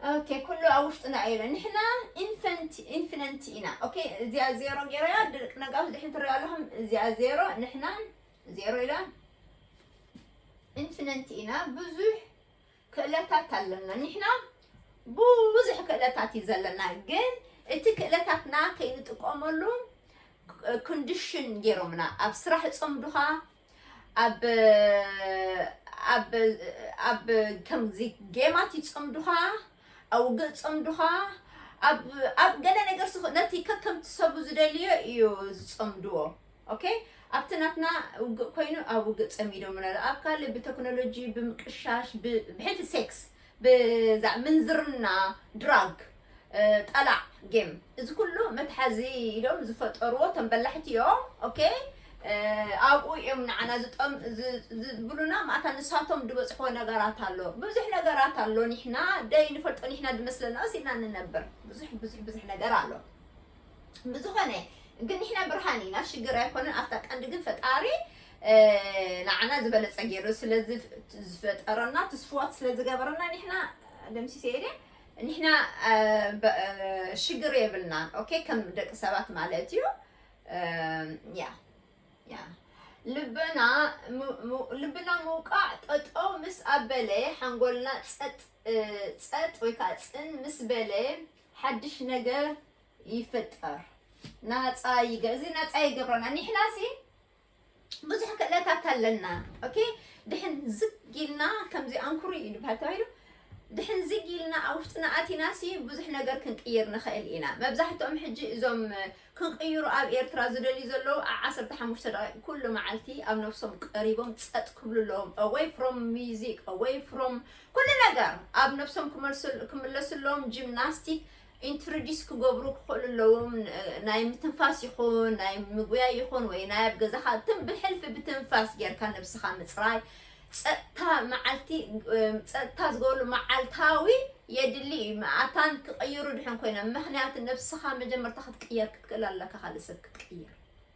ኦኬ ኩሉ ኣብ ውሽጥና እዩ ኢለ ንሕና ኢንፈንት ኢንፊነንት ኢና ኦኬ እዚኣ ዜሮ ገይረያ ድርቅ ነጋፍ ድሕን ትሪኦ ኣለኹም እዚኣ ዜሮ ንሕና ዜሮ ኢላ ኢንፊነንት ኢና ብዙሕ ክእለታት ኣለና ኒሕና ቡዙሕ ክእለታት እዩ ዘለና ግን እቲ ክእለታትና ከይንጥቀመሉ ክንድሽን ገይሮምና ኣብ ስራሕ ጸምዱኻ ኣብ ኣብ ኣብ ከምዚ ጌማት ይጸምዱኻ ኣብ ውግእ ጸምዱኻ ኣብ ኣብ ገለ ነገር ስኽ ነቲ ከከምቲ ሰቡ ዝደልዮ እዩ ዝጸምድዎ ok ኣብቲ ናትና ውግእ ኮይኑ ኣብ ውግእ ጸሚዶሙና ኣሎ ኣብ ካልእ ብተክኖሎጂ ብምቅሻሽ ብሕልፊ ሴክስ ብዛዕ ምንዝርና ድራግ ጠላዕ ጌም እዚ ኩሉ መትሓዚ ኢሎም ዝፈጠርዎ እቶም በላሕቲ እዮም ኦኬ ኣብኡ እዮም ንዓና ዝብሉና ማእታ ንሳቶም ዝበፅሕዎ ነገራት ኣሎ ብዙሕ ነገራት ኣሎ ኒሕና ደይ ንፈልጦ ኒሕና ድመስለና ወሲድና ንነብር ብዙሕ ብዙሕ ብዙሕ ነገር ኣሎ ብዝኾነ ግን ንሕና ብርሃን ኢና ሽግር ኣይኮነን ኣብታ ቀንዲ ግን ፈጣሪ ንዓና ዝበለፀ ገይሩ ስለዝፈጠረና ትስፍዋት ስለዝገበረና ንሕና ደምሲሰ እየ ንሕና ሽግር የብልናን ኦኬ ከም ደቂ ሰባት ማለት እዩ ያ ያ ልብና ልብና ምውቃዕ ጠጠው ምስ ኣበለ ሓንጎልና ፀጥ ፀጥ ወይ ከዓ ፅን ምስ በለ ሓድሽ ነገር ይፍጠር ናፃ ይገ እዚ ናፃ ይገብረና ኒሕና ሲ ብዙሕ ክእለታት ኣለና ኦኬ ድሕን ዝግ ኢልና ከምዚ ኣንኩሩ እዩ ድበሃል ተባሂሉ ድሕን ዝግ ኢልና ኣብ ውሽጥና ኣቲና ሲ ብዙሕ ነገር ክንቅይር ንኽእል ኢና መብዛሕትኦም ሕጂ እዞም ክንቅይሮ ኣብ ኤርትራ ዝደልዩ ዘለዉ ብ ዓሰርተ ሓሙሽተ ደቂቅ ኩሉ መዓልቲ ኣብ ነብሶም ቀሪቦም ጸጥ ክብሉ ኣለዎም ኣወይ ፍሮም ሚዚክ ኣወይ ፍሮም ኩሉ ነገር ኣብ ነብሶም ክምለሱ ኣለዎም ጂምናስቲክ ኢንትርዲስ ክገብሩ ክኽእሉ ኣለዎም ናይ ምትንፋስ ይኹን ናይ ምጉያይ ይኹን ወይ ናይ ኣብ ገዛኻ ትም ብሕልፊ ብትንፋስ ጌርካ ነብስኻ ምጽራይ ጸጥታ መዓልቲ ጸጥታ ዝገብርሉ መዓልታዊ የድሊ እዩ። መኣታን ክቕይሩ ድሕን ኮይኖም ምክንያቱ ነብስኻ መጀመርታ ክትቅየር ክትክእል ኣለካ ካልእ ሰብ ክትቅይር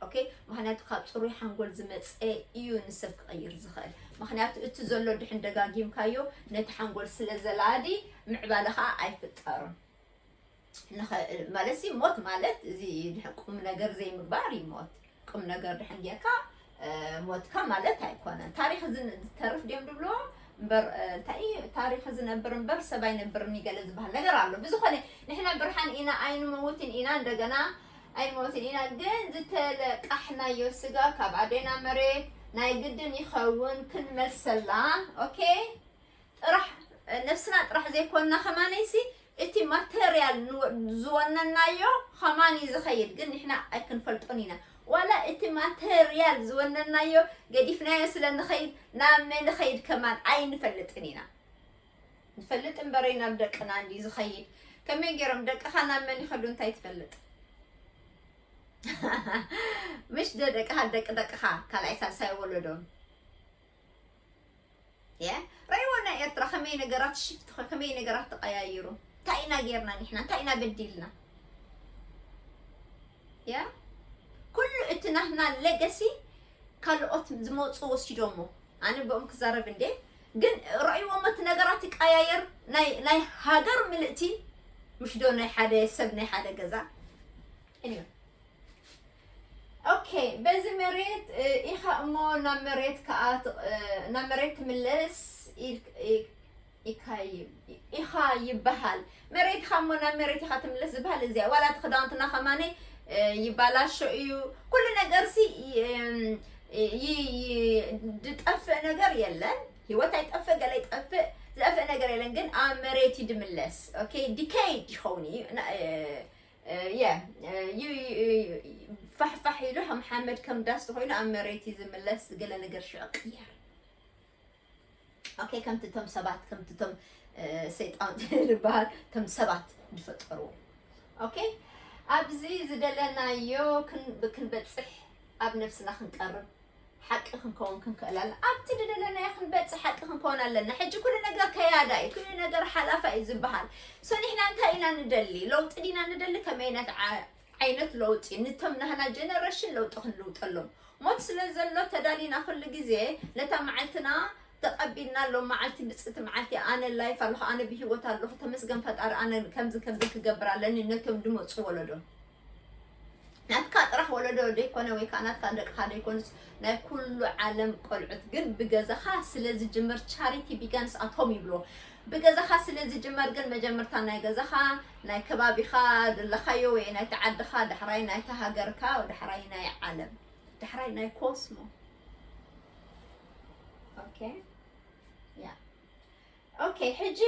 ኦኬ ምክንያቱ ካብ ፅሩይ ሓንጎል ዝመፀ እዩ ንሰብ ክቐይር ዝኽእል ምክንያቱ እቲ ዘሎ ድሕን ደጋጊምካዮ ነቲ ሓንጎል ስለ ዘላዲ ምዕባለ ከዓ ኣይፍጠሩን ንኸእል ማለት ሲ ሞት ማለት እዚ ድሕን ቁም ነገር ዘይምግባር እዩ ሞት ቁም ነገር ድሕን ጌርካ ሞትካ ማለት ኣይኮነን ታሪክ ዝተርፍ ድም ድብሎ እበር እንታይ ታሪክ ዝነብር እበር ሰብ ኣይነብርን ይገለ ዝበሃል ነገር ኣሎ ብዝኮነ ንሕና ብርሓን ኢና ኣይንመውትን ኢና እንደገና ኣይንመውትን ኢና ግን ዝተለቃሕናዮ ስጋ ካብ ኣዴና መሬት ናይ ግድን ይኸውን ክንመልሰላ ኦኬ ጥራሕ ነብስና ጥራሕ ዘይኮና ከማነይሲ እቲ ማተርያል ዝወነናዮ ከማን እዩ ዝኸይድ ግን ንሕና ኣይክንፈልጦን ኢና ዋላ እቲ ማተርያል ዝወነናዮ ገዲፍናዮ ስለ ንኸይድ ናብ መ ንኸይድ ከማን ኣይንፈልጥን ኢና ንፈልጥ እምበረይ ናብ ደቅና እንዲ ዝኸይድ ከመይ ገይሮም ደቅኻ ናብ መን ይኸዱ እንታይ ትፈልጥ ምሽ ደደቅኻ ደቂ ደቅኻ ካልኣይ ሳልሳይ ወለዶም ርእይዎ ናይ ኤርትራ ከመይ ነገራት ሽፍት ከመይ ነገራት ተቀያይሩ እንታይ ኢና ጌርና ንሕና እንታይ ኢና በዲልና ያ ኩሉ እቲ ናትና ሌገሲ ካልኦት ዝመፁ ወሲዶሞ ኣነ ብኦም ክዛረብ እንዴ ግን ርእይዎሞ እቲ ነገራት ይቀያየር ናይ ሃገር ምልእቲ ምሽዶ ናይ ሓደ ሰብ ናይ ሓደ ገዛ እንዮ ኦኬ በዚ መሬት ኢካ እሞ ናብ መሬት ከኣ ናብ መሬት ትምለስ ኢካ ይበሃል መሬት ኢካ እሞ ናብ መሬት ኢካ ትምለስ ዝበሃል እዚ ዋላ እቲ ክዳውንትና ከማነይ ይባላሾ እዩ ኩሉ ነገር ሲ ዝጠፍእ ነገር የለን ሂወት ኣይጠፍእ ገለ ይጠፍእ ዝጠፍእ ነገር የለን ግን ኣብ መሬት እዩ ድምለስ ኦኬ ዲከይድ ይኸውን እዩ ያ ፋሕፋሕ ኢሉ ሓመድ ከም ዳስ ተኮይኑ ኣብ መሬት እዩ ዝምለስ ገለ ነገር ሽዑ ቅየር ኦኬ ከምቲ እቶም ሰባት ከምቲ እቶም ሰይጣን ዝበሃል እቶም ሰባት ዝፈጠርዎ ኦኬ ኣብዚ ዝደለናዮ ክንበፅሕ ኣብ ነብስና ክንቀርብ ሓቂ ክንከውን ክንክእል ኣለና። ኣብቲ ዝደለናዮ ክንበጽሕ ሓቂ ክንከውን ኣለና። ሕጂ ኩሉ ነገር ከያዳ እዩ፣ ኩሉ ነገር ሓላፋ እዩ ዝበሃል። ሶ ንሕና እንታይ ኢና ንደሊ? ለውጢ ዲና ንደሊ? ከመይነት ዓይነት ለውጢ? ንቶም ናህና ጀነረሽን ለውጢ ክንልውጠሎም ሞት ስለ ዘሎ ተዳሊና ኩሉ ግዜ ነታ መዓልትና ተቐቢልና ኣሎ መዓልቲ ብፅእቲ መዓልቲ ኣነ ላይፍ ኣለኹ ኣነ ብሂወት ኣለኹ ተመስገን ፈጣሪ ኣነ ከምዚ ከምዚ ክገብር ኣለኒ ነቶም ድመፁ ወለዶ ናትካ ጥራሕ ወለዶ ደይኮነ ወይ ከኣ ናትካ ደቅኻ ደይኮኑስ ናይ ኩሉ ዓለም ቆልዑት ግን ብገዛኻ ስለ ዝጅምር ቻሪቲ ቢጋንስ ኣት ሆም ይብልዎ ብገዛኻ ስለ ዝጅመር ግን መጀመርታ ናይ ገዛኻ ናይ ከባቢኻ ዘለኻዮ ወይ ናይቲ ዓድኻ ዳሕራይ ናይቲ ሃገርካ ዳሕራይ ናይ ዓለም ዳሕራይ ናይ ኮስሞ ኦኬ ያ ኦኬ ሕጂ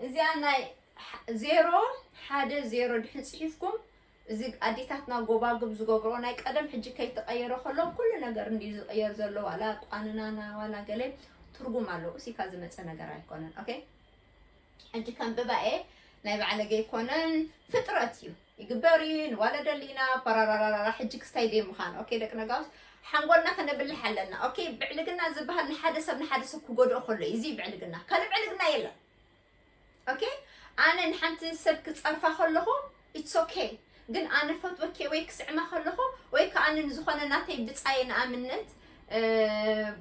እዚኣ ናይ ዜሮ ሓደ ዜሮ ድሕን ጽሒፍኩም እዚ ኣዴታትና ጎባጉብ ዝገብሮ ናይ ቀደም ሕጂ ከይተቀየረ ከሎ ኩሉ ነገር እንዲ ዝቅየር ዘሎ ዋላ ቋንናና ዋላ ገለ ትርጉም ኣለዎ እሲካ ዝመጸ ነገር ኣይኮነን ኦኬ ሕጂ ከም ብባኤ ናይ ባዕለገ ኣይኮነን ፍጥረት እዩ ይግበር እዩ ንዋለ ደሊና ፓራራራራ ሕጂ ክስታይ ደይ ምዃን ኦኬ ደቂ ነጋውስ ሓንጎልና ከነብልሕ ኣለና ኦኬ ብዕልግና ዝበሃል ንሓደ ሰብ ንሓደ ሰብ ክጎድኦ ከሎ እዩ እዚ ብዕልግና ካልእ ብዕልግና የለን ኦኬ ኣነ ንሓንቲ ሰብ ክጸርፋ ከለኹ ኢትስ ኦኬ ግን ኣነ ፈትወኬ ወይ ክስዕማ ከለኹ ወይ ከዓ ኣነ ንዝኾነ ናተይ ብጻየ ንኣብነት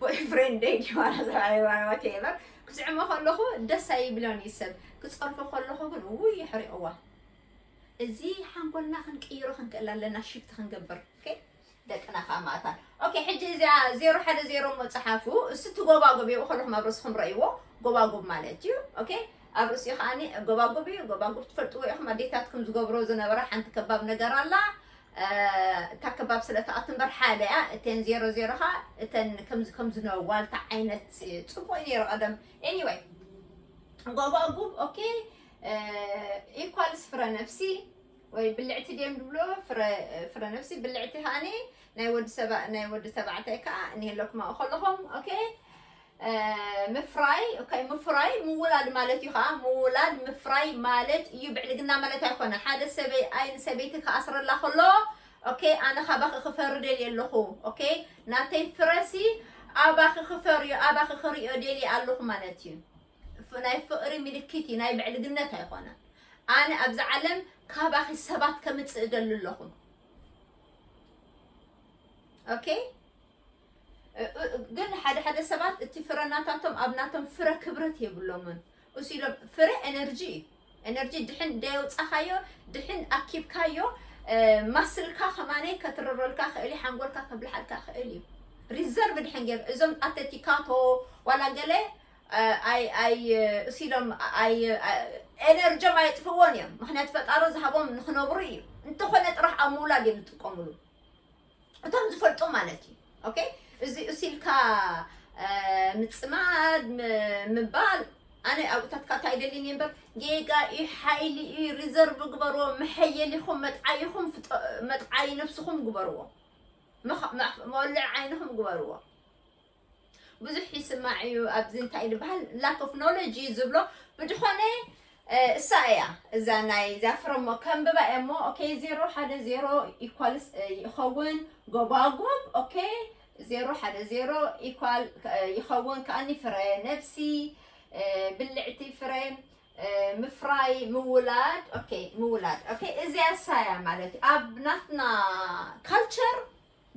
ቦይፍሬንደይ ዲዋቴቨር ክስዕሞ ከለኹ ደስ ኣይብሎን እዩ ሰብ ክጸርፎ ከለኹ ግን ውይ የሕሪቕዋ እዚ ሓንጎልና ክንቅይሮ ክንክእል ኣለና ሽፍቲ ክንገብር ኦኬ ደቅና ከኣ ማእታን ኦኬ ሕጂ እዚኣ ዜሮ ሓደ ዜሮ እሞ ጸሓፉ እሱ እቲ ጎባጉብ እዩ ከለኹም ኣብ ርእስኹም ረእይዎ ጎባጉብ ማለት እዩ ኦኬ ኣብ ርእሲኡ ከዓኒ ጎባጉብ እዩ ጎባጉብ ትፈልጥዎ ኢኹም ኣዴታትኩም ዝገብሮ ዝነበራ ሓንቲ ከባብ ነገር ኣላ እታ ከባብ ስለ ተኣቱ እምበር ሓደ እያ እተን ዜሮ ዜሮ ኸዓ እተን ከምዚ ከምዚ ነ ዋልታ ዓይነት ፅቡቅ እዩ ነይሩ ቀደም ኤኒወይ ጎባጉብ ኦኬ ኢኳልስ ፍረ ነፍሲ ወይ ብልዕቲ ድዮም ድብሎ ፍረ ፍረ ነብሲ ብልዕቲ ከኣኒ ናይ ወዲ ሰባ ናይ ወዲ ተባዕታይ ከኣ እኒሀለኩማ ከለኹም ኦኬ ምፍራይ ኦኬ ምፍራይ ምውላድ ማለት እዩ ከኣ ምውላድ ምፍራይ ማለት እዩ ብዕልግና ማለት ኣይኮነ ሓደ ሰበይ ኣይ ንሰበይቲ ክኣስረላ ከሎ ኦኬ ኣነ ካባኺ ክፈሪ ደልየ ኣለኹ ኦኬ ናተይ ፍረሲ ኣባኺ ክፈርዮ ኣባኺ ክሪኦ ደልየ ኣለኹ ማለት እዩ ናይ ፍቅሪ ምልክት እዩ ናይ ብዕልግነት ኣይኮነን ኣነ ኣብዚ ዓለም ካባኺ ሰባት ከምፅእ እደሊ ኣለኹ ኦኬ ግን ሓደ ሓደ ሰባት እቲ ፍረ ናታቶም ኣብ ናቶም ፍረ ክብረት የብሎምን እሱ ኢሎም ፍረ ኤነርጂ እዩ ኤነርጂ ድሕን ደየውፃኻዮ ድሕን ኣኪብካዮ ማስልካ ከማነይ ከትርረልካ ክእል እዩ ሓንጎልካ ከብልሓልካ ክእል እዩ ሪዘርቭ ድሕን ገይሩ እዞም ኣተቲካቶ ዋላ ገለ ኣይ ኣይ እሲሎም ኣይ ኤነርጆም ኣየጥፍእዎን እዮም ምክንያቱ ፈጣሮ ዝሃቦም ንክነብሩ እዩ እንተኾነ ጥራሕ ኣብ ምውላድ እዮም ዝጥቀምሉ እቶም ዝፈልጡ ማለት እዩ ኦኬ እዚ እሲልካ ምፅማድ ምባል ኣነ ኣብታትካ እንታይ ደሊኒ እምበር ጌጋ እዩ ሓይሊ እዩ ሪዘርቭ ግበርዎ መሐየሊኹም መጥዓይኹም መጥዓይ ነብስኹም ግበርዎ መወልዕ ዓይንኹም ግበርዎ ብዙሕ ይስማዕ እዩ ኣብዚ እንታይ ዝበሃል ላክ ኦፍ ኖሎጅ እዩ ዝብሎ ብድኾነ እሳ እያ እዛ ናይ እዛ ፍረሞ ከንብባ እየ እሞ ኦኬ ዜሮ ሓደ ዜሮ ኢኳልስ ይኸውን ጎባጉብ ኦኬ ዜሮ ሓደ ዜሮ ኢኳል ይኸውን ከኣኒ ፍረ ነብሲ ብልዕቲ ፍረ ምፍራይ ምውላድ ኦኬ ምውላድ ኦኬ እዚያ ሳያ ማለት ኣብ ናትና ካልቸር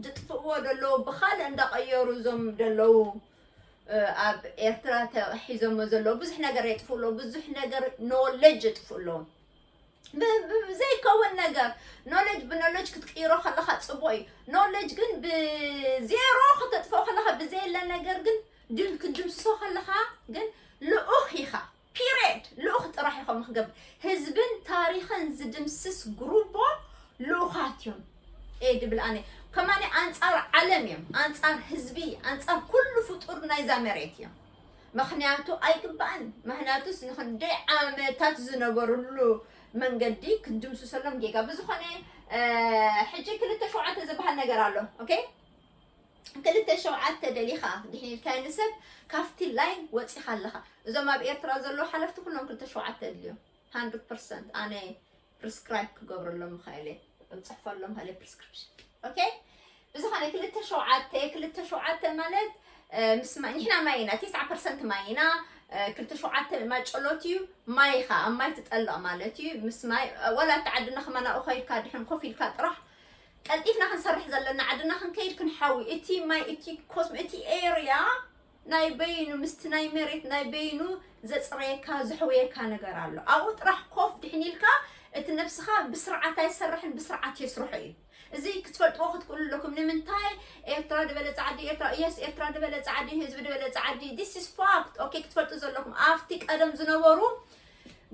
ዝጥፍእዎ ደለዉ ብካልእ እንዳቀየሩ እዞም ደለዉ ኣብ ኤርትራ ሒዞሞ ዘለዉ ብዙሕ ነገር የጥፍኡ ኣለዉ ብዙሕ ነገር ኖለጅ የጥፍኡ ኣለዉ ዘይከውን ነገር ኖለጅ ብኖለጅ ክትቅይሮ ከለካ ጽቡቅ እዩ ኖለጅ ግን ብዜሮ ከተጥፍኦ ከለካ ብዘየለ ነገር ግን ክትድምስሶ ከለካ ግን ልኡክ ኢካ Period! ልኡኽ ጥራሕ እዩ ከምኡ ክገብር። ህዝብን ታሪኽን ዝድምስስ ጉሩቦ ልኡኻት እዮም። እየ ድብል ኣነ ከማኒ ኣንጻር ዓለም እዮም ኣንጻር ህዝቢ ኣንጻር ኩሉ ፍጡር ናይዛ መሬት እዮም ምክንያቱ ኣይግባእን ምክንያቱስ ንክንደይ ዓመታት ዝነበርሉ መንገዲ ክንድምስሰሎም ጌጋ ብዝኾነ ሕጂ ክልተ ሸውዓተ ዝበሃል ነገር ኣሎ ኦኬ ክልተ ሸውዓተ ደሊኻ ድሕን ኢልካዮ ንሰብ ካብቲ ላይን ወጺኻ ኣለኻ እዞም ኣብ ኤርትራ ዘለዉ ሓለፍቲ ኩሎም ክልተ ሸውዓተ የድልዮም ሃንድርድ ፐርሰንት ኣነ ፕሪስክራይብ ክገብረሎም ምኽእል እየ እንጽሕፈሎም ምኽእል እየ ፕሪስክሪፕሽን ኦኬ ብዝኾነ ክልተ ሸውዓተ ክልተ ሸውዓተ ማለት እ፣ ምስ ማይ ንሕና ማይ ኢና ትስዓ ፐርሰንት ማይ ኢና እ፣ ክልተ ሸውዓተ ማጨሎት እዩ ማይ ኢኻ ኣብ ማይ ትጠልቕ ማለት እዩ ምስ ማይ እ፣ ወላ እቲ ዓድና ከማን ኣብኡ ከይድካ ድሕን ኮፍ ኢልካ ጥራሕ ቀልጢፍና ክንሰርሕ ዘለና ዓድና ክንከይድ ክንሓዊ እቲ ማይ እቲ ኮስሞ እቲ ኤርያ ናይ በይኑ ምስቲ ናይ መሬት ናይ በይኑ ዘፅረየካ ዘሕውየካ ነገር ኣሎ ኣብኡ ጥራሕ ኮፍ ድሕን ኢልካ እቲ ነብስኻ ብስርዓት ኣይሰርሕን ብስርዓት የስርሖ እዩ እዚ ክትፈልጥዎ ክትክእሉ ኣለኩም ንምንታይ ኤርትራ ድበለ ፃዕዲ ኤርትራ የስ ኤርትራ ድበለ ፃዕዲ ህዝቢ ድበለ ፃዕዲ ዲስ ኢስ ፋክት ኦኬ ክትፈልጡ ዘለኩም ኣብቲ ቀደም ዝነበሩ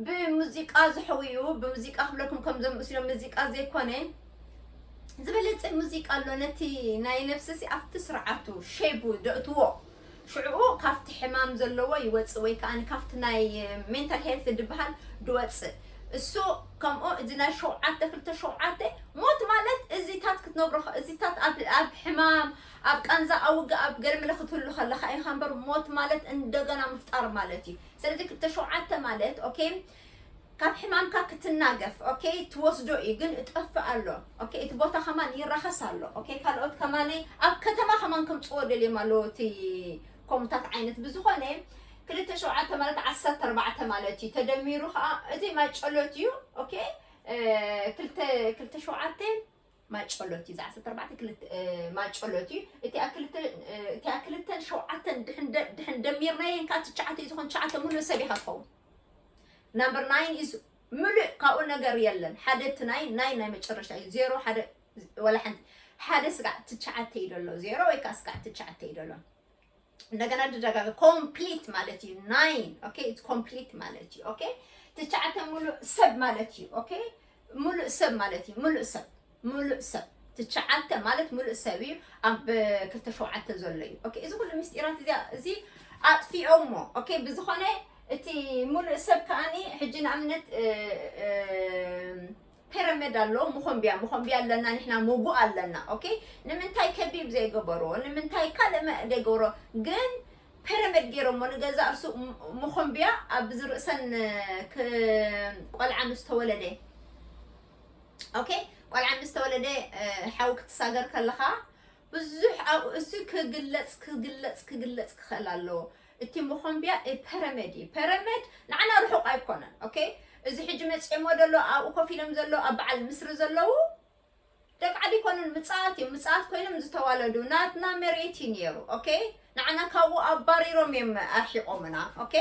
ብሙዚቃ ዝሕውዩ ብሙዚቃ ክብለኩም ከም ዘምስሎ ሙዚቃ ዘይኮነ ዝበለጸ ሙዚቃ ኣሎ ነቲ ናይ ነብስሲ ኣብቲ ስርዓቱ ሸይቡ ደእትዎ ሽዕኡ ካብቲ ሕማም ዘለዎ ይወጽእ ወይ ከኣ ካብቲ ናይ ሜንታል ሄልት ድበሃል ድወጽእ እሱ ከምኡ እዚ ናይ ሸውዓተ ክልተ ሸውዓተ ሞት ማለት እዚታት ክትነብሮ እዚታት ኣብ ሕማም ኣብ ቃንዛ ኣብ ውግእ ኣብ ገለ መለ ክትህሉ ከለካ ኢኻ እምበር ሞት ማለት እንደገና ምፍጣር ማለት እዩ ስለዚ ክልተሸውዓተ ማለት ኦኬ ካብ ሕማምካ ክትናገፍ ኦኬ ትወስዶ እዩ ግን እጠፍእ ኣሎ ኦኬ እቲ ቦታ ከማን ይራኸስ ኣሎ ኦኬ ካልኦት ከማን ኣብ ከተማ ከማን ከምፅዎ ደልዮም ኣለዎ እቲ ኮሙታት ዓይነት ብዝኾነ ክልተ ሸውዓተ ማለት ዓሰርተ ኣርባዕተ ማለት እዩ ተደሚሩ ከዓ እዚ ማጨሎት እዩ ኦኬ ክልተ ሸውዓተ ማጨሎት እዩ ዝዓሰርተ ኣርባዕተ ክልተ ማጨሎት እዩ እቲኣ ክልተ እቲኣ ክልተን ሸውዓተን ድሕን ደ- ድሕን ደሚርናየን ካብ ትሽዓተ እዩ ዝኾን ትሽዓተ ምሉእ ሰብ ኢኻ ትኸውን ናምበር ናይን ኢዝ ምሉእ ካብኡ ነገር የለን ሓደ እቲ ናይ ናይ ናይ መጨረሻ እዩ ዜሮ ሓደ ወላ ሓንቲ ሓደ ስጋዕ ትሽዓተ እዩ ደሎ ዜሮ ወይ ከዓ ስጋዕ ትሽዓተ እዩ ደሎ እንደገና ድደጋገ ኮምፕሊት ማለት እዩ ናይን ኦኬ ኢትስ ኮምፕሊት ማለት እዩ ኦኬ ትሽዓተ ሙሉእ ሰብ ማለት እዩ ኦኬ ሙሉእ ሰብ ማለት እዩ ሙሉእ ሰብ ሙሉእ ሰብ ትሽዓተ ማለት ሙሉእ ሰብ እዩ ኣብ ክልተ ሸውዓተ ዘሎ እዩ ኦኬ እዚ ኩሉ ምስጢራት እዚ እዚ ኣጥፊኦሞ ኦኬ ብዝኾነ እቲ ሙሉእ ሰብ ከዓኒ ሕጂ ንኣብነት እ፣ እ፣ ፔረመድ ኣሎ ሞኾምብያ ሞኾምብያ ኣለና ንሕና ሞጉእ ኣለና ኦኬ ንምንታይ ከቢብ ዘይገበርዎ ንምንታይ ካልእ መ ዘይገብሮ ግን ፔረመድ ጌሮሞ ንገዛእ ርሱ ሞኾምብያ ኣብ ዝርእሰን ክ ቆልዓ ምስ ተወለደ ኦኬ ቆልዓ ምስ ተወለደ ሓዊ ክትሳገር ከለኻ ብዙሕ ኣብኡ እሱ ክግለጽ ክግለጽ ክግለጽ ክኸእል ኣለዎ እቲ መኾምቢያ ፐረመድ እዩ ፐረመድ ንዓና ርሑቕ ኣይኮነን ኦኬ እዚ ሕጂ መጺኦሞ ደሎ ኣብኡ ኮፍ ኢሎም ዘሎ ኣብ በዓል ምስሪ ዘለዉ ደቂ ዓዲ ይኮኑን ምጽኣት እዮም ምጽኣት ኮይኖም ዝተዋለዱ ናትና መሬት እዩ ነይሩ ኦኬ ንዓና ካብኡ ኣባሪሮም እዮም ኣርሒቆምና ok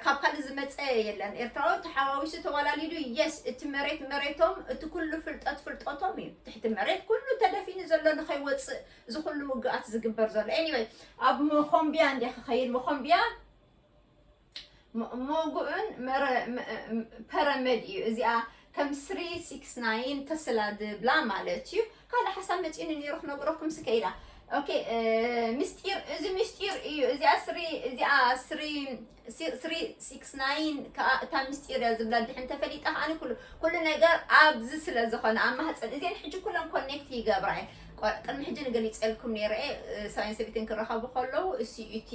ካብ ካልእ ዝመጸ የለን ኤርትራዊ ተሓዋዊሱ ተዋላሊዱ yes እቲ መሬት መሬቶም እቲ ኩሉ ፍልጠት ፍልጠቶም እዩ ትሕቲ መሬት ኩሉ ተደፊኑ ዘሎ ንኸይወጽእ እዚ ኩሉ ውግኣት ዝግበር ዘሎ anyway ኣብ መኾምብያ እንድየ ክኸይድ መኾምብያ ሞጉእን ፐረመድ እዩ እዚኣ ከም ስሪ ሲክስ ናይን ተስላ ድብላ ማለት እዩ ካልእ ሓሳብ መፂኒ ነይሩ ክነግረኩም ስከኢላ ኦኬ ምስጢር እዚ ምስጢር እዩ እዚኣ ስሪ እዚኣ ስሪ ስሪ ሲክስ ናይን ከዓ እታ ምስጢር እያ ዝብላ ድሕን ተፈሊጣ ከዓኒ ኩሉ ኩሉ ነገር ኣብዚ ስለ ዝኾነ ኣብ ማህፀን እዚን ሕጂ ኩለን ኮኔክት ይገብራ እየ ቆ- ቅድሚ ሕጂ ንገሊፀልኩም ነይረ እየ ሰብኣይን ሰበይትን ክራኸቡ ከለዉ እሱ እቲ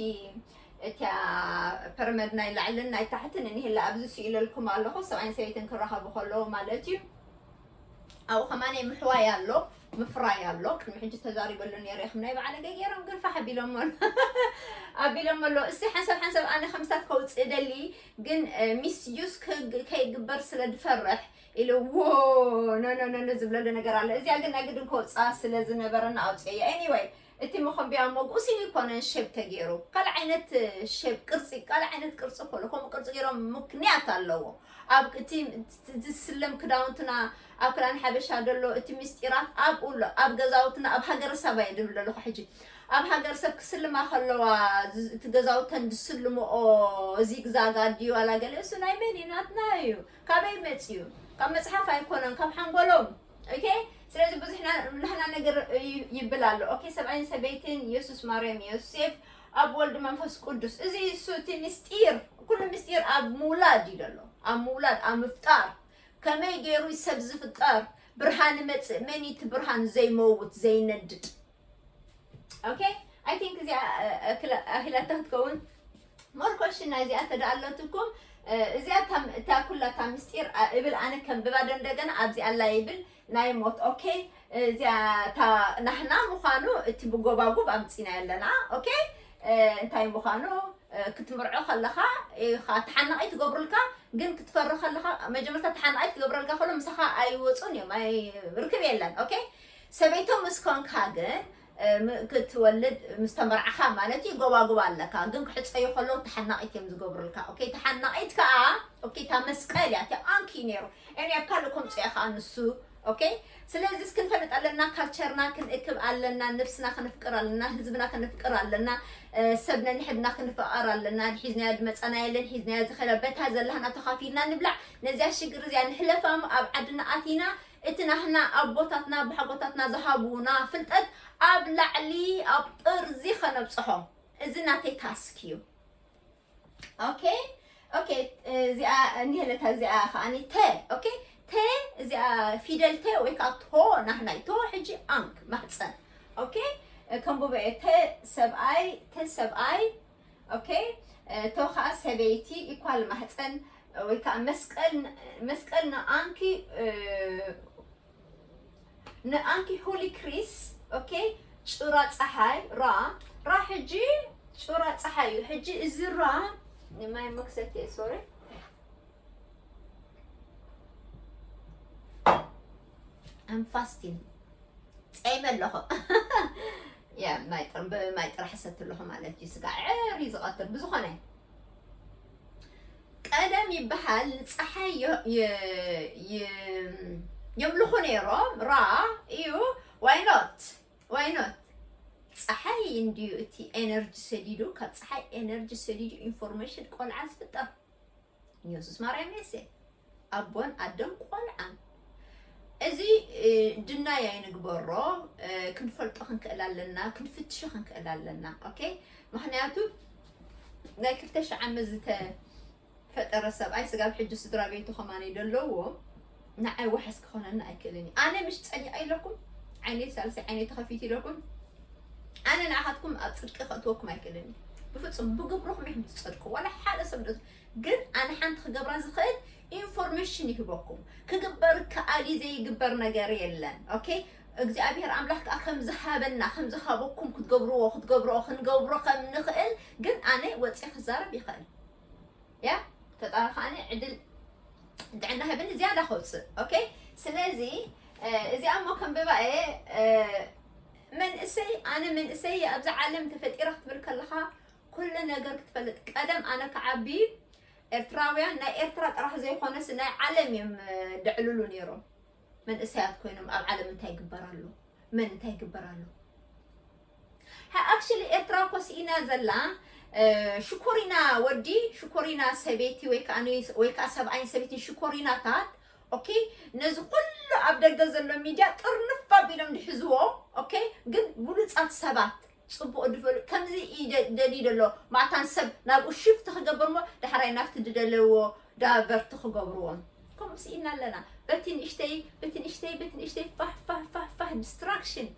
እቲያ ፐርመድ ናይ ላዕልን ናይ ታሕትን እኒህላ ኣብዚ ስኢለልኩም ኣለኹ ሰብኣይን ሰበይትን ክራኸቡ ከለዉ ማለት እዩ ኣብኡ ከማን ምሕዋይ ኣሎ ምፍራይ ኣሎ ቅድሚ ሕጂ ተዛሪበሉ ነይረ ከም ናይ በዓለገ ገይሮም ግን ፋሕ ኣቢሎሞ ኣቢሎሞ ኣሎ እስቲ ሓንሰብ ሓንሰብ ኣነ ከምስታት ከውፅእ ደሊ ግን ሚስዩስ ከይግበር ስለ ድፈርሕ ኢሉ ዎ ኖኖኖኖ ዝብለሉ ነገር ኣሎ እዚኣ ግን ናይ ግድን ከውፅኣ ስለ ዝነበረና ኣውፅያ ኤኒወይ እቲ መኾምብያ እሞ ብእሲኒ ኣይኮነን ሼብ ተገይሩ ካልእ ዓይነት ሼብ ቅርፂ ካልእ ዓይነት ቅርፂ እኮ ኣሎ ከምኡ ቅርፂ ገይሮም ምክንያት ኣለዎ ኣብ እቲ ዝስለም ክዳውንትና ኣብ ክዳን ሓበሻ ዘሎ እቲ ምስጢራት ኣብኡ ኣሎ ኣብ ገዛውትና ኣብ ሃገረሰብ እየ ድብል ዘለኹ ሕጂ ኣብ ሃገረሰብ ክስልማ ከለዋ ዝ- እቲ ገዛውተን ዝስልምኦ ዚግዛጋ ድዩ ዋላ ገለ እሱ ናይ መን እዩ ናትና እዩ ካበይ መፅዩ ካብ መፅሓፍ ኣይኮነን ካብ ሓንጎሎም ኦኬ ስለዚ ብዙሕ ናህና ነገር ይብል ኣሎ ኦኬ ሰብኣይን ሰበይትን የሱስ ማርያም ዮሴፍ ኣብ ወልድ መንፈስ ቅዱስ እዚ እሱ እቲ ምስጢር ኩሉ ምስጢር ኣብ ምውላድ እዩ ዘሎ ኣብ ምውላድ ኣብ ምፍጣር ከመይ ገይሩ ሰብ ዝፍጠር ብርሃን መፅእ መን እቲ ብርሃን ዘይመውት ዘይነድድ ኦኬ ኣይ ቲንክ እዚኣ ኣኺላታ ክትከውን ሞር ኮሽና እዚኣ ተዳ ኣለትኩም እዚኣ እታ ኩላ እታ ምስጢር እብል ኣነ ከንብባዶ እንደገና ኣብዚ ኣላ ይብል ናይ ሞት ኦኬ እዚኣ እታ ናህና ምዃኑ እቲ ብጎባጉብ ኣምፂናዮ ኣለና ኦኬ እንታይ ምዃኑ ክትምርዖ ከለኻ ኢኻ ተሓናቒ ትገብሩልካ ግን ክትፈሪ ከለኻ መጀመርታ ተሓናቒ ትገብረልካ ከሎ ምሳኻ ኣይወፁን እዮም ርክብ የለን ኦኬ ሰበይቶ ምስ ኮንካ ግን ክትወልድ ምስ ተመርዓኻ ማለት እዩ ጎባጉብ ኣለካ ግን ክሕጸዩ ከለዉ ተሓናቂት እዮም ዝገብሩልካ ኦኬ ተሓናቂት ከኣ ኦኬ እታ መስቀል እያ እቲ ኣንኪ እዩ ነይሩ እኔ ኣብ ካልእ ከምጽኦ እየ ከኣ ንሱ ኦኬ ስለዚ ክንፈልጥ ኣለና ካልቸርና ክንእክብ ኣለና ነብስና ክንፍቅር ኣለና ህዝብና ክንፍቅር ኣለና ሰብ ነንሕድና ክንፈቐር ኣለና ድሒዝናዮ ድመፃና የለን ሒዝናዮ ዝኸዳ በታ ዘላህና ተኻፊልና ንብላዕ ነዚያ ሽግር እዚኣ ንሕለፋ እሞ ኣብ ዓድና ኣቲና እቲ ናህና ኣቦታትና ብሓጎታትና ዝሃቡና ፍልጠት ኣብ ላዕሊ ኣብ ጥርዚ ከነብጽሖ እዚ ናተይ ታስክ እዩ ኦኬ ኦኬ እዚኣ እንሄለታ እዚኣ ከዓኒ ተ ኦኬ ተ እዚኣ ፊደል ተ ወይ ከዓ ቶ ናህናይ ቶ ሕጂ ኣንክ ማሕፀን ኦኬ ከምቡበ ተ ሰብኣይ ተ ሰብኣይ ኦኬ እቶ ከዓ ሰበይቲ ኢኳል ማህፀን ወይ ከዓ መስቀል መስቀል ንኣንኪ ንኣንኪ ሁሊ ክሪስ ኦኬ ጩራ ፀሓይ ራ ራ ሕጂ ጩራ ፀሓይ እዩ ሕጂ እዚ ራ ንማይ መክሰት እየ ሶሪ ኣንፋስቲን ፀይመ ኣለኹ ማይ ጥራሕ ሰቲ ኣለኹ ማለት እዩ ስጋ ዕር እዩ ዝቐትል ብዝኾነ ቀደም ይበሃል ንፀሓይ የምልኹ ነይሮም ራ እዩ ዋይኖት ዋይኖት ፀሓይ እንድዩ እቲ ኤነርጂ ሰዲዱ ካብ ፀሓይ ኤነርጂ ሰዲዱ ኢንፎርሜሽን ቆልዓ ዝፍጠር ኢየሱስ ማርያም የሴ ኣቦን ኣደን ቆልዓን እዚ ድናይ ኣይንግበሮ ክንፈልጦ ክንክእል ኣለና ክንፍትሾ ክንክእል ኣለና ኦኬ ምክንያቱ ናይ ክልተ ሽሕ ዓመት ዝተፈጠረ ሰብኣይ ስጋብ ሕጂ ስድራ ቤቱ ከማነይ ደለዎ ንዓይ ዋሕስ ክኾነኒ ኣይክእልን እዩ ኣነ ምሽ ፀኒቐ ኢለኩም ዓይነይ ሳልሰይ ዓይነይ ተኸፊት ኢለኩም ኣነ ንዓኻትኩም ኣብ ፅድቂ ከእትወኩም ኣይክእልን እዩ ብፍፁም ብግብርኹም ኢኹም ትፀድቁ ዋላ ሓደ ሰብ ግን ኣነ ሓንቲ ክገብራ ዝኽእል ኢንፎርሜሽን ይህበኩም ክግበር ከኣሊ ዘይግበር ነገር የለን ኦኬ እግዚኣብሔር ኣምላኽ ከዓ ከም ዝሃበና ከም ዝሃበኩም ክትገብርዎ ክትገብርዎ ክንገብሮ ከም ንኽእል ግን ኣነ ወፂ ክዛረብ ይኽእል ያ ፈጣሪ ከዓኒ ዕድል ጥዕና ህብኒ ዝያዳ ከውፅእ ኦኬ ስለዚ እዚኣ እሞ ከንብባ እየ መንእሰይ ኣነ መንእሰይ ኣብዚ ዓለም ተፈጢረ ክትብል ከለኻ ኩሉ ነገር ክትፈልጥ ቀደም ኣነ ክዓቢ ኤርትራውያን ናይ ኤርትራ ጥራሕ ዘይኮነስ ናይ ዓለም እዮም ደዕልሉ ነይሮም መንእሰያት ኮይኖም ኣብ ዓለም እንታይ ይግበር ኣሎ መን እንታይ ይግበር ኣሎ ኣክሽሊ ኤርትራ እኮ ስኢና ዘላ ሽኮሪና ወዲ ሽኮሪና ሰበይቲ ወይ ከዓ ወይ ከዓ ሰብኣይን ሰበይትን ሽኮሪናታት ኦኬ ነዚ ኩሉ ኣብ ደገ ዘሎ ሚድያ ጥርንፍ ኣቢሎም ድሕዝዎ ኦኬ ግን ብሉፃት ሰባት ጽቡቅ ድፈሉ ከምዚ ኢዩ ደ ደልዩ ደሎ ማታን ሰብ ናብኡ ሽፍት ክገብር እሞ ዳሕራይ ናብቲ ድደለዎ ዳቨርት ክገብርዎም ከምኡ ስኢና ኣለና በቲ ንእሽተይ በቲ ንእሽተይ በቲ ንእሽተይ ፋህ ፋህ ፋህ ፋህ ዲስትራክሽን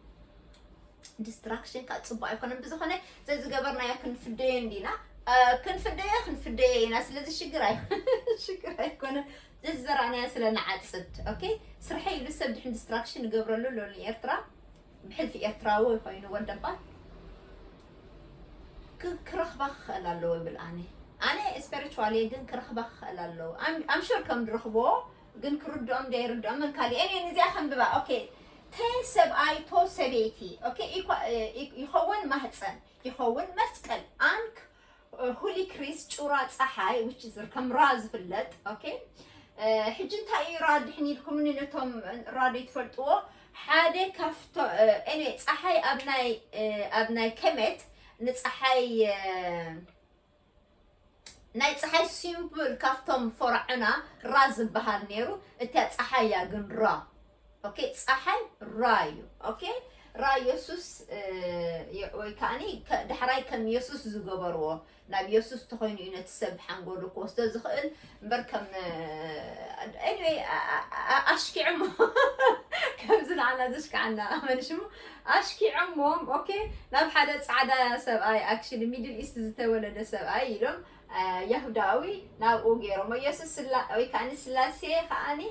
ዲስትራክሽን ካብ ጽቡቅ ኣይኮነን ብዝኾነ ዘዝገበርናዮ ክንፍደዮ እንዲና ክንፍደዮ ክንፍደዮ ኢና ስለዚ ሽግር ኣይ ሽግር ኣይኮነን ዘዝዘራእናዮ ስለ ንዓጽድ ኦኬ ስርሐይ ኢሉ ሰብ ድሕን ዲስትራክሽን ይገብረሉ ሎኒ ኤርትራ ብሕልፊ ኤርትራዊ ኮይኑ ወደባት ክረኽባ ክኽእል ኣለዎ ይብል ኣነ ኣነ ስፐሪቹዋል እየ ግን ክረኽባ ክኽእል ኣለዎ ኣምሹር ከም ዝረኽቦ ግን ክርድኦም ዶ ኣይርድኦምን ካልእ እኔ ንዚኣ ከንብባ ኦኬ ተን ሰብኣይ ቶ ሰበይቲ ኦኬ ይኸውን ማህፀን ይኸውን መስቀል ኣንክ ሁሊ ክሪስ ጩራ ጸሓይ which is ከም ራ ዝፍለጥ ኦኬ ሕጂ እንታይ እዩ ራ ድሕን ኢልኩምኒ ነቶም ራ ዘይትፈልጥዎ ሓደ ካብቶ ኤኒዌይ ጸሓይ ኣብ ናይ ኣብ ናይ ከመት ንጸሓይ ናይ ፀሓይ ሲምፕል ካብቶም ፈርዖና ራ ዝበሃል ነይሩ እታ ፀሓያ ግን ራ ኦኬ ጻሓይ ራዩ ኦኬ ራይ የሱስ ወይ ከኣኒ ዳሕራይ ከም የሱስ ዝገበርዎ ናብ የሱስ ተኾይኑ እዩ ነቲ ሰብ ሓንጎሉ ክወስዶ ዝኽእል እምበር ከም ኤኒዌይ ኣሽኪዕሞ ከምዚ ንዓና ዘሽክዓና መን ሽሙ ኣሽኪዖሞም ኦኬ ናብ ሓደ ፃዕዳ ሰብኣይ ኣክሽሊ ሚድል ኢስት ዝተወለደ ሰብኣይ ኢሎም ያሁዳዊ ናብኡ ገይሮሞ ኢየሱስ ወይ ከዓ ስላሴ ከዓኒ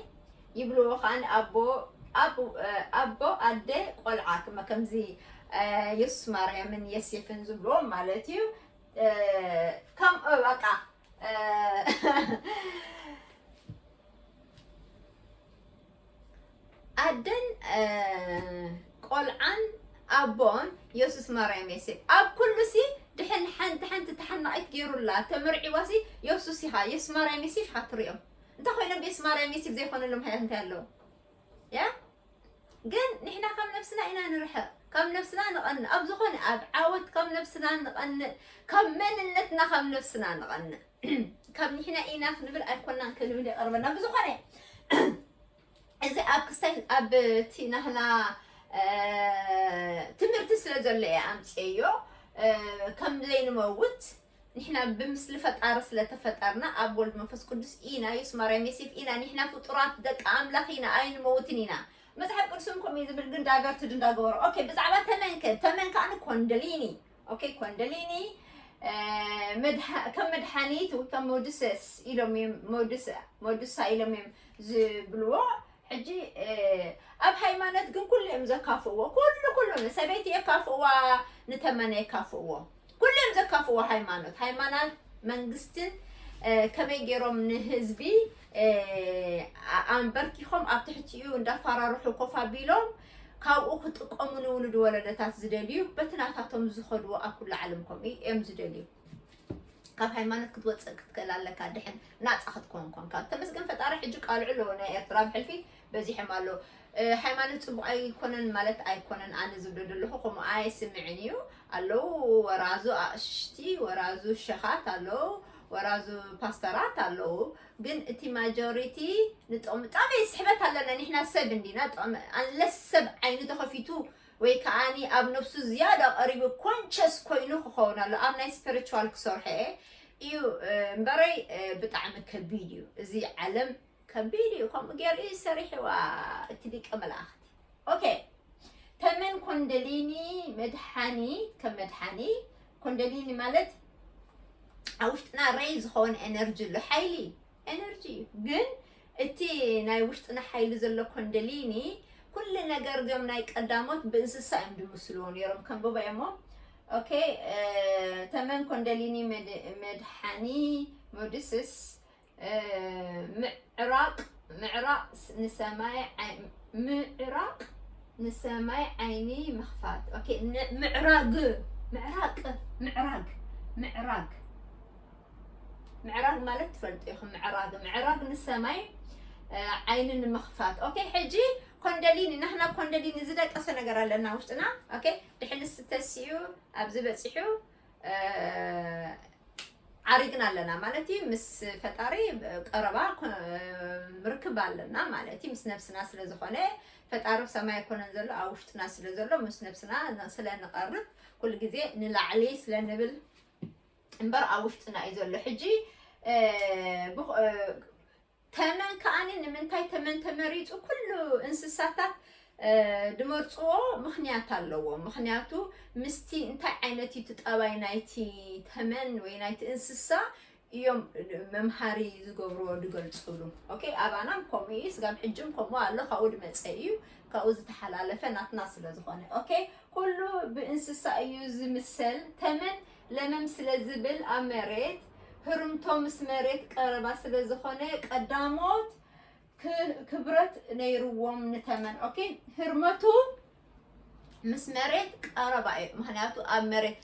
ይብልዎ ከኣ ንኣቦ ኣብ ኣቦ ኣደ ቆልዓ ክመ ከምዚ የሱስ ማርያምን የሴፍን ዝብልዎም ማለት እዩ ከምኡ በቃ ኣደን ቆልዓን ኣቦን የሱስ ማርያም የሴፍ ኣብ ኩሉ ሲ ድሕን ሓንቲ ሓንቲ ተሓናቒት ገይሩላ ተመርዒዋ ሲ የሱስ ኢኻ የሱስ ማርያም የሴፍ ኢኻ ትሪኦም እንታይ ኮይኖም ቤስ ማርያም ዩቲብ ዘይኮነሎም ሃያት እንታይ ኣለዎ ያ ግን ንሕና ካብ ነብስና ኢና ንርሕቕ ካብ ነብስና ንቐንእ ኣብ ዝኾነ ኣብ ዓወት ካብ ነብስና ንቐንእ ካብ መንነትና ካብ ነብስና ንቐንእ ካብ ንሕና ኢና ክንብል ኣይኮናን ክንብል ይቐርበና ብዝኾነ እዚ ኣብ ክስታይ ኣብ እቲ ናህና ትምህርቲ ስለ ዘሎ እየ ኣምፅየዮ ከም ዘይንመውት ንሕና ብምስሊ ፈጣሪ ስለ ተፈጠርና ኣብ ወልድ መንፈስ ቅዱስ ኢና ዮስ ማርያም ዬሴፍ ኢና ንሕና ፍጡራት ደቂ ኣምላኽ ኢና ኣይንመውትን ኢና መጽሓፍ ቅዱስን ከምኡ እዩ ዝብል ግን ዳይቨርትድ እንዳገበሮ ኦኬ ብዛዕባ ተመን ከ ተመን ከዓኒ ኮንደሊኒ ኦኬ ኮንደሊኒ ከም መድሓኒት ወይ ከም ሞድሰስ ኢሎም እዮም ሞድሳ ኢሎም እዮም ዝብልዎ ሕጂ ኣብ ሃይማኖት ግን ኩሉ እዮም ዘካፍእዎ ኩሉ ኩሉ ንሰበይቲ የካፍእዋ ንተመነ የካፍእዎ ኩሎም ዘካፍዎ ሃይማኖት ሃይማናት መንግስትን ከመይ ገይሮም ንህዝቢ ኣንበርኪኾም ኣብ ትሕቲኡ እንዳፋራርሑ ኮፍ ኣቢሎም ካብኡ ክጥቀሙ ንውሉድ ወለደታት ዝደልዩ በቲ ናታቶም ዝኸድዎ ኣብ ኩሉ ዓለም ከምኡ እዮም ዝደልዩ ካብ ሃይማኖት ክትወፅእ ክትክእል ኣለካ ድሕን ናፃ ክትኮን ኮንካ ተመስገን ፈጣሪ ሕጂ ቃልዑ ኣለዎ ናይ ኤርትራ ብሕልፊ በዚሖም ኣሎ ሃይማኖት ጽቡቅ ኣይኮነን ማለት ኣይኮነን ኣነ ዝብሎ ዘለኹ ከምኡ ኣይስምዕን እዩ ኣለው ወራዙ ኣቅሽቲ ወራዙ ሸኻት ኣለው ወራዙ ፓስተራት ኣለው ግን እቲ ማጆሪቲ ንጥቕሚ ጥቕሚ ስሕበት ኣለና ንሕና ሰብ እንዲና ጥቕሚ ኣንለስ ሰብ ዓይኑ ተኸፊቱ ወይ ከዓኒ ኣብ ነፍሱ ዝያዳ ቀሪቡ ኮንቸስ ኮይኑ ክኸውን ኣሎ ኣብ ናይ ስፒሪቹዋል ክሰርሐ እዩ እምበረይ ብጣዕሚ ከቢድ እዩ እዚ ዓለም ከቢድ እዩ ከምኡ ገይሩ እዩ ሰሪሕዋ እቲ ሊቀ መላእኽቲ ኦኬ ተመን ኮንደሊኒ መድሓኒ ከም መድሓኒ ኮንደሊኒ ማለት ኣብ ውሽጥና ረይ ዝኸውን ኤነርጂ ኣሎ ሓይሊ ኤነርጂ እዩ ግን እቲ ናይ ውሽጥና ሓይሊ ዘሎ ኮንደሊኒ ኩሉ ነገር ዞም ናይ ቀዳሞት ብእንስሳ እዮም ዝምስልዎ ነይሮም ከንብቦ እሞ ኦኬ ተመን ኮንደሊኒ መድሓኒ ሞድስስ ምዕራቕ ምዕራቕ ንሰማይ ምዕራቕ ንሰማይ ዓይኒ ምኽፋት ኦኬ ምዕራግ ምዕራቅ ምዕራግ ምዕራግ ምዕራግ ማለት ትፈልጡ ኢኹም ምዕራግ ምዕራግ ንሰማይ ዓይኒ ንምኽፋት ኦኬ ሕጂ ኮንደሊኒ ናህና ኮንደሊኒ ዝደቀሰ ነገር ኣለና ውሽጥና ኦኬ ድሕልስ ተሲኡ ኣብዚ በፂሑ ዓሪግና ኣለና ማለት እዩ ምስ ፈጣሪ ቀረባ ርክብ ኣለና ማለት እዩ ምስ ነብስና ስለ ዝኾነ ፈጣሪ ብ ሰማይ ኣይኮነን ዘሎ ኣብ ውሽጥና ስለ ዘሎ ምስ ነብስና ስለ ንቐርብ ኩሉ ግዜ ንላዕሊ ስለ ንብል እምበር ኣብ ውሽጥና እዩ ዘሎ ሕጂ ተመን ከኣኒ ንምንታይ ተመን ተመሪጹ ኩሉ እንስሳታት ድመርጽዎ ምኽንያት ኣለዎ ምኽንያቱ ምስቲ እንታይ ዓይነት እዩ ጠባይ ናይቲ ተመን ወይ ናይቲ እንስሳ እዮም መምሃሪ ዝገብርዎ ዝገልፅሉ ኦኬ ኣባናም ከምኡ እዩ ስጋብ ሕጅም ከምኡ ኣሎ ካብኡ ድመፀ እዩ ካብኡ ዝተሓላለፈ ናትና ስለ ዝኾነ ኦኬ ኩሉ ብእንስሳ እዩ ዝምሰል ተመን ለመም ስለ ዝብል ኣብ መሬት ህርምቶ ምስ መሬት ቀረባ ስለ ዝኾነ ቀዳሞት ክብረት ነይርዎም ንተመን ኦኬ ህርመቱ ምስ መሬት ቀረባ እዩ ምክንያቱ ኣብ መሬት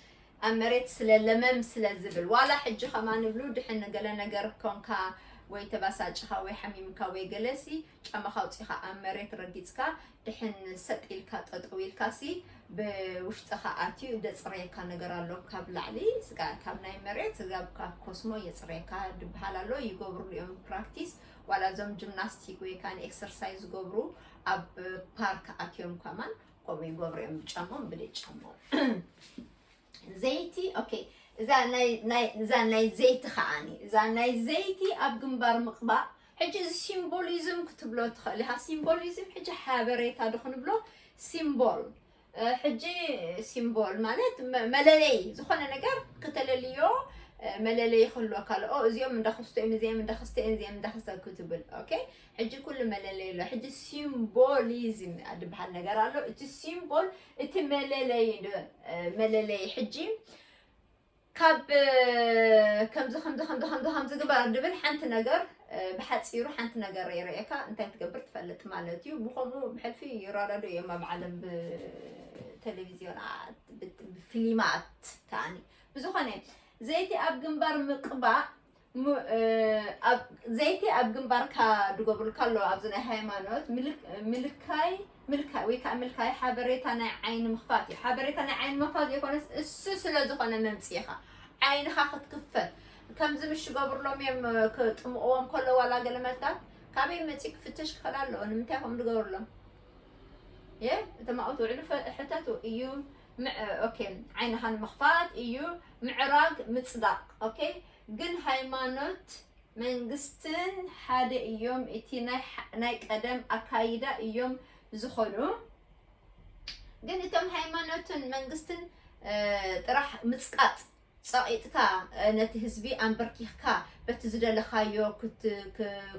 ኣብ መሬት ስለ ለመም ስለ ዝብል ዋላ ሕጂ ከማ ንብሉ ድሕን ገለ ነገር ኮንካ ወይ ተባሳጭኻ ወይ ሓሚምካ ወይ ገለሲ ጫማኻ ኣውጺኻ ኣብ መሬት ረጊጽካ ድሕን ሰጥ ኢልካ ጠጠው ኢልካሲ ብውሽጥኻ ኣትዩ ደጽረየካ ነገር ኣሎ ካብ ላዕሊ ስጋ ካብ ናይ መሬት ስጋ ካብ ኮስሞ የጽረየካ ድብሃል ኣሎ ይገብርሉ እዮም ፕራክቲስ ዋላ እዞም ጂምናስቲክ ወይ ከዓ ኤክሰርሳይዝ ዝገብሩ ኣብ ፓርክ ኣትዮም ከማን ከምኡ ይገብሩ እዮም ብጫሞም ብደይ ጫሞም ዘይቲ ኦኬ እዛ ናይ ናይ እዛ ናይ ዘይቲ ከዓኒ እዛ ናይ ዘይቲ ኣብ ግንባር ምቕባእ ሕጂ እዚ ሲምቦሊዝም ክትብሎ ትኽእል ኢኻ ሲምቦሊዝም ሕጂ ሓበሬታ ዶ ክንብሎ ሲምቦል ሕጂ ሲምቦል ማለት መለለይ ዝኾነ ነገር ከተለልዮ መለለይ ይኽህልወካ ኣሎ እዚኦም እንዳክስቶ እዮም እዚኦም እንዳክስቶ እዮም እዚኦም እንዳክስቶ ክትብል ኦኬ ሕጂ ኩሉ መለለይ ኣሎ ሕጂ ሲምቦሊዝም ድበሃል ነገር ኣሎ እቲ ሲምቦል እቲ መለለይ መለለይ ሕጂ ካብ ከምዚ ከምዚ ከምዚ ከምዚ ከምዚ ግበር ድብል ሓንቲ ነገር ብሓፂሩ ሓንቲ ነገር ይርእየካ እንታይ ትገብር ትፈልጥ ማለት እዩ ብከምኡ ብሕልፊ ይረዳዶ እዮም ኣብ ዓለም ብቴሌቪዝዮናት ብፊልማት ከዓኒ ብዝኾነ ዘይቲ ኣብ ግንባር ምቅባእ ዘይቲ ኣብ ግንባርካ ድጎብርልካ ኣሎ ኣብዚ ናይ ሃይማኖት ምልካይ ምልካይ ወይ ከዓ ምልካይ ሓበሬታ ናይ ዓይኒ ምኽፋት እዩ ሓበሬታ ናይ ዓይኒ ምኽፋት ዘይኮነስ እሱ ስለ ዝኾነ መምፅኢኻ ዓይንኻ ክትክፈት ከምዚ ምሽ ገብርሎም እዮም ክጥምቕዎም ከሎ ዋላ ገለ መልታት ካበይ መፂ ክፍተሽ ክኽእል ኣለዎ ንምንታይ ከምኡ ዝገብርሎም የ እቶም ኣብኡ ትውዕሉ ሕተቱ እዩ ኦኬ ዓይንኻ ንምኽፋት እዩ ምዕራግ ምፅዳቕ ኦኬ ግን ሃይማኖት መንግስትን ሓደ እዮም እቲ ናይ ቀደም ኣካይዳ እዮም ዝኾኑ ግን እቶም ሃይማኖትን መንግስትን ጥራሕ ምፅቃጥ ፀቂጥካ ነቲ ህዝቢ ኣንበርኪኽካ በቲ ዝደለኻዮ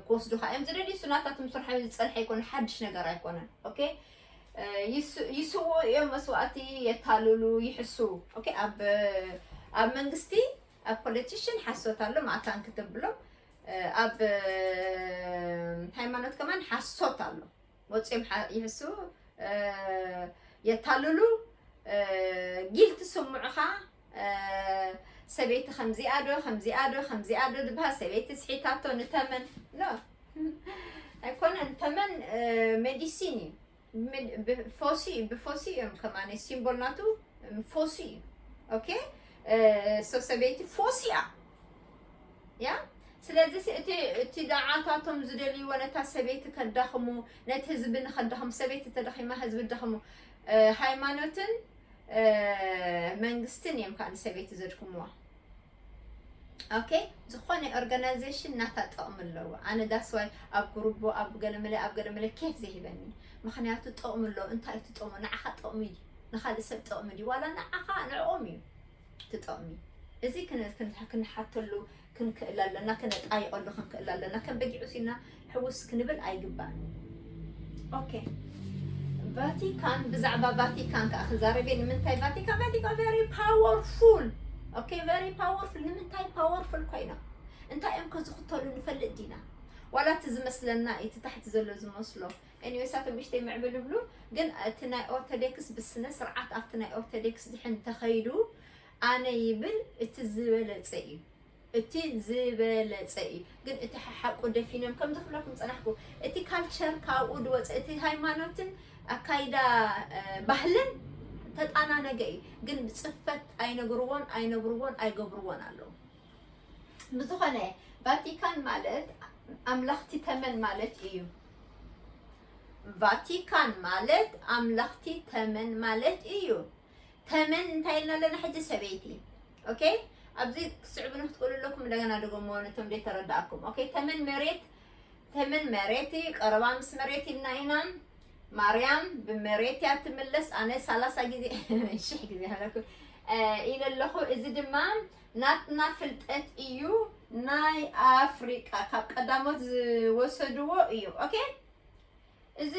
ክወስዱኻ እዮም ዝደልዩ ሱናታትም ስርሖ ዝፀንሐ ኣይኮነ ሓድሽ ነገር ኣይኮነን ኦኬ ይስውኡ እዮም መስዋእቲ የታልሉ ይሕሱ ኦኬ ኣብ ኣብ መንግስቲ ኣብ ፖለቲሽን ሓሶት ኣሎ ማእታን ክትብሎም ኣብ ሃይማኖት ከማን ሓሶት ኣሎ ወፂኦም ይሕሱ የታልሉ ጊል ትስምዑኻ ሰበይቲ ከምዚኣ ዶ ከምዚኣ ዶ ከምዚኣ ዶ ዝበሃል ሰበይቲ ስሒታቶ ንተመን ኖ ኣይኮነን ተመን ሜዲሲን እዩ ምን ብ ፎሲ ብ ፎሲ እዮም ከማን ሲምቦል ናቱ ም ፎሲ እዩ ኦኬ ሶ ሰበይቲ ፎሲ እያ ያ ስለዚ ሲ እቲ እቲ ደዓታቶም ዝደልይዎ ነታ ሰበይቲ ከዳኽሙ ነቲ ህዝቢ ንኸዳኽሙ ሰበይቲ ተዳኺማ ህዝቢ ዳኽሙ ሃይማኖትን መንግስትን እዮም ከዓ ንሰበይቲ ዘድክምዋ ኦኬ ዝኾነ ኦርጋናይዜሽን ናታ ጥቕሚ ኣለዎ ኣነ ዳስዋይ ኣብ ጉርቦ ኣብ ገለመለ ኣብ ገለመለ ኬፍ ዘይህበኒ ምክንያቱ ጥቕሚ ኣለዎ እንታይ እቲ ጥቕሙ ንዓኻ ጥቕሚ እዩ ንካልእ ሰብ ጥቕሚ ድዩ ዋላ ንዓኻ ንዕኦም እዩ እቲ ጥቕሚ እዚ ክንሓተሉ ክንክእል ኣለና ክነጣይቐሉ ክንክእል ኣለና ከም በጊዕ ሲና ሕውስ ክንብል ኣይግባእን ኦኬ። ቫቲካን ብዛዕባ ቫቲካን ከዓ ክዛረብ እየ ንምንታይ ቫቲካ ቫቲካ ቨሪ ፓወርፉል ኦኬ ቨሪ ፓወርፉል ንምንታይ ፓወርፉል ኮይኖም እንታይ እዮም ከዝኽተሉ ንፈልጥ ዲና ዋላ እቲ ዝመስለና እዩ እቲ ታሕቲ ዘሎ ዝመስሎ ኤኒዌይ ሳቶም እሽተይ ምዕብል ይብሉ ግን እቲ ናይ ኦርቶዶክስ ብስነ ስርዓት ኣብቲ ናይ ኦርቶዶክስ ድሕን ተኸይዱ ኣነ ይብል እቲ ዝበለፀ እዩ እቲ ዝበለጸ እዩ ግን እቲ ሓሓቁ ደፊኖም ከምዚ ክብለኩም ጸናሕኩ እቲ ካልቸር ካብኡ ድወጸ እቲ ሃይማኖትን ኣካይዳ ባህልን ተጣናነገ እዩ ግን ብጽፈት ኣይነግርዎን ኣይነብርዎን ኣይገብርዎን ኣለዉ ብዝኾነ ቫቲካን ማለት ኣምላኽቲ ተመን ማለት እዩ። ቫቲካን ማለት ኣምላኽቲ ተመን ማለት እዩ። ተመን እንታይ ኢልና ኣለና ሕጂ ሰበይቲ ኦኬ ኣብዚ ክትስዕቡ ንክትክእሉ ኣለኩም እንደገና ደገሞ ነቶም ደይ ተረዳእኩም ኦኬ ተመን መሬት ተመን መሬት እዩ ቀረባ ምስ መሬት ኢልና ኢና ማርያም ብመሬት እያ ትምለስ ኣነ ሰላሳ ግዜ ሽሕ ግዜ ሃለኩ ኢለ ኣለኹ እዚ ድማ ናትና ፍልጠት እዩ ናይ ኣፍሪቃ ካብ ቀዳሞት ዝወሰድዎ እዩ ኦኬ እዚ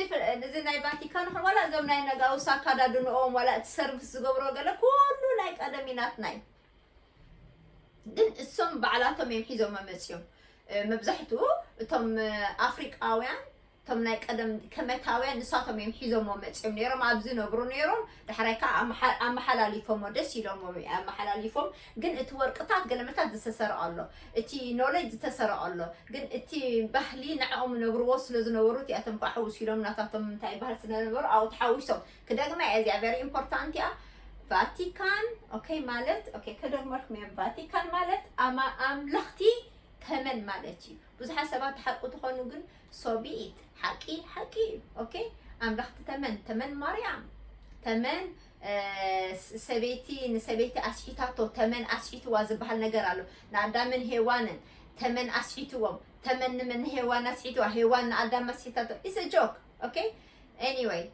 እዚ ናይ ቫቲካን ይኹን ዋላ እዞም ናይ ነጋውስ ኣካዳድንኦም ዋላ እቲ ሰርቪስ ዝገብሮ ገለ ኩሉ ናይ ቀደም እዩ ናትና እዩ ግን እሶም ባዕላቶም እዮም ሒዞም መመፅዮም መብዛሕትኡ እቶም ኣፍሪቃውያን እቶም ናይ ቀደም ከመታውያን ንሳቶም እዮም ሒዞሞ መፅዮም ነይሮም ኣብዚ ነብሩ ነይሮም ዳሕራይ ከኣ ኣመሓ ኣመሓላሊፎሞ ደስ ኢሎሞም ኢዩ ኣመሓላሊፎም ግን እቲ ወርቅታት ገለመታት ዝተሰረቀ ኣሎ እቲ ኖለጅ ዝተሰረቀ ኣሎ ግን እቲ ባህሊ ንዕኦም ይነብርዎ ስለ ዝነበሩ እቲኣቶም ከኣ ሕውስ ኢሎም ናታቶም እንታይ ይበሃል ስለ ዝነበሩ ኣብኡ ተሓዊሶም ክደግማ ኢየ እዚኣ ቨሪ ኢምፖርታንት ኢያ ቫቲካን ኦኬ ማለት ኦኬ ከደግመልኩም ኢየ ቫቲካን ማለት ኣማ ኣምለኽቲ ተመን ማለት ኢዩ ብዙሓት ሰባት ትሓቁ ትኾኑ ግን ሶ ቢ ኢት ሓቂ ሓቂ እዩ ኦኬ ኣንበኽቲ ተመን ተመን ማርያም ተመን ሰበይቲ ንሰበይቲ ኣስሒታቶ ተመን ኣስሒትዋ ዝበሃል ነገር ኣሎ ንኣዳምን ሄዋንን ተመን ኣስሒትዎም ተመን ንመን ንሄዋን ኣስሒትዋ ሄዋን ንኣዳም ኣስሒታቶ ኢሰ ጆክ ኦኬ ኤኒወይ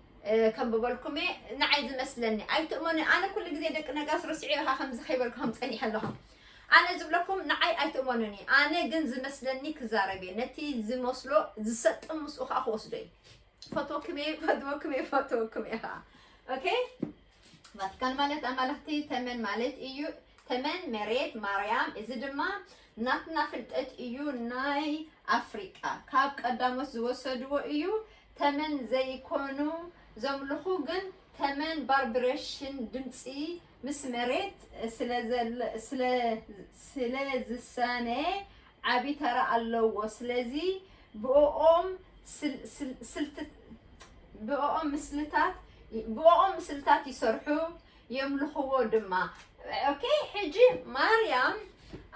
ከንብበልኩም እየ ንዓይ ዝመስለኒ ኣይትእመኑ ኣነ ኩሉ ግዜ ደቂ ነጋስ ርስዒ ኢኻ ከምዚ ከይበልኩም ፀኒሐ ኣለኹም ኣነ ዝብለኩም ንዓይ ኣይትእመኑኒ ኣነ ግን ዝመስለኒ ክዛረብ እየ ነቲ ዝመስሎ ዝሰጥም ምስኡ ከዓ ክወስዶ እዩ ፈትወኩም እየ ፈትወኩም እየ ፈትወኩም እየ ከዓ ኦኬ ቫቲካን ማለት ኣማልኽቲ ተመን ማለት እዩ ተመን መሬት ማርያም እዚ ድማ ናትና ፍልጠት እዩ ናይ ኣፍሪቃ ካብ ቀዳሞት ዝወሰድዎ እዩ ተመን ዘይኮኑ ዘምልኹ ግን ተመን ባርብሬሽን ድምፂ ምስ መሬት ስለዝሳነ ዓቢ ተራ ኣለዎ ስለዚ ብኦም ምስልታት ብኦም ምስልታት ይሰርሑ የምልኽዎ ድማ ኦኬ ሕጂ ማርያም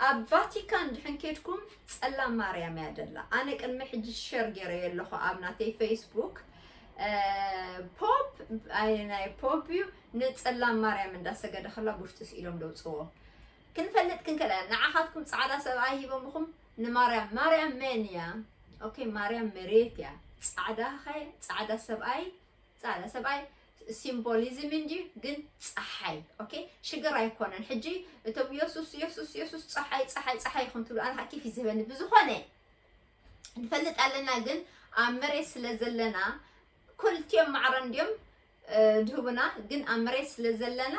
ኣብ ቫቲካን ድሕን ኬድኩም ጸላም ማርያም እያ ደላ ኣነ ቅድሚ ሕጂ ሸር ገይረ ኣለኹ ኣብ ናተይ ፌስቡክ ፖፕ ኣይ ናይ ፖፕ እዩ ንጽላም ማርያም እንዳ ሰገደ ከላ ቡሽጢ ስኢሎም ደውጽዎ ክንፈልጥ ክንከለ ንዓኻትኩም ጻዕዳ ሰብኣይ ሂቦምኹም ንማርያም ማርያም መን እያ ኦኬ ማርያም መሬት እያ ጻዕዳ ኸ ጻዕዳ ሰብኣይ ጻዕዳ ሰብኣይ ሲምቦሊዝም እንጂ ግን ፀሓይ ኦኬ ሽግር ኣይኮነን ሕጂ እቶም የሱስ የሱስ የሱስ ፀሓይ ፀሓይ ፀሓይ ይኹን ትብሉ ኣነ ኪፍ ይዝበኒ ብዝኾነ ንፈልጥ ኣለና ግን ኣብ መሬት ስለ ዘለና ኩልትዮም ማዕረ እንድዮም ድሁብና ግን ኣብ መሬት ስለ ዘለና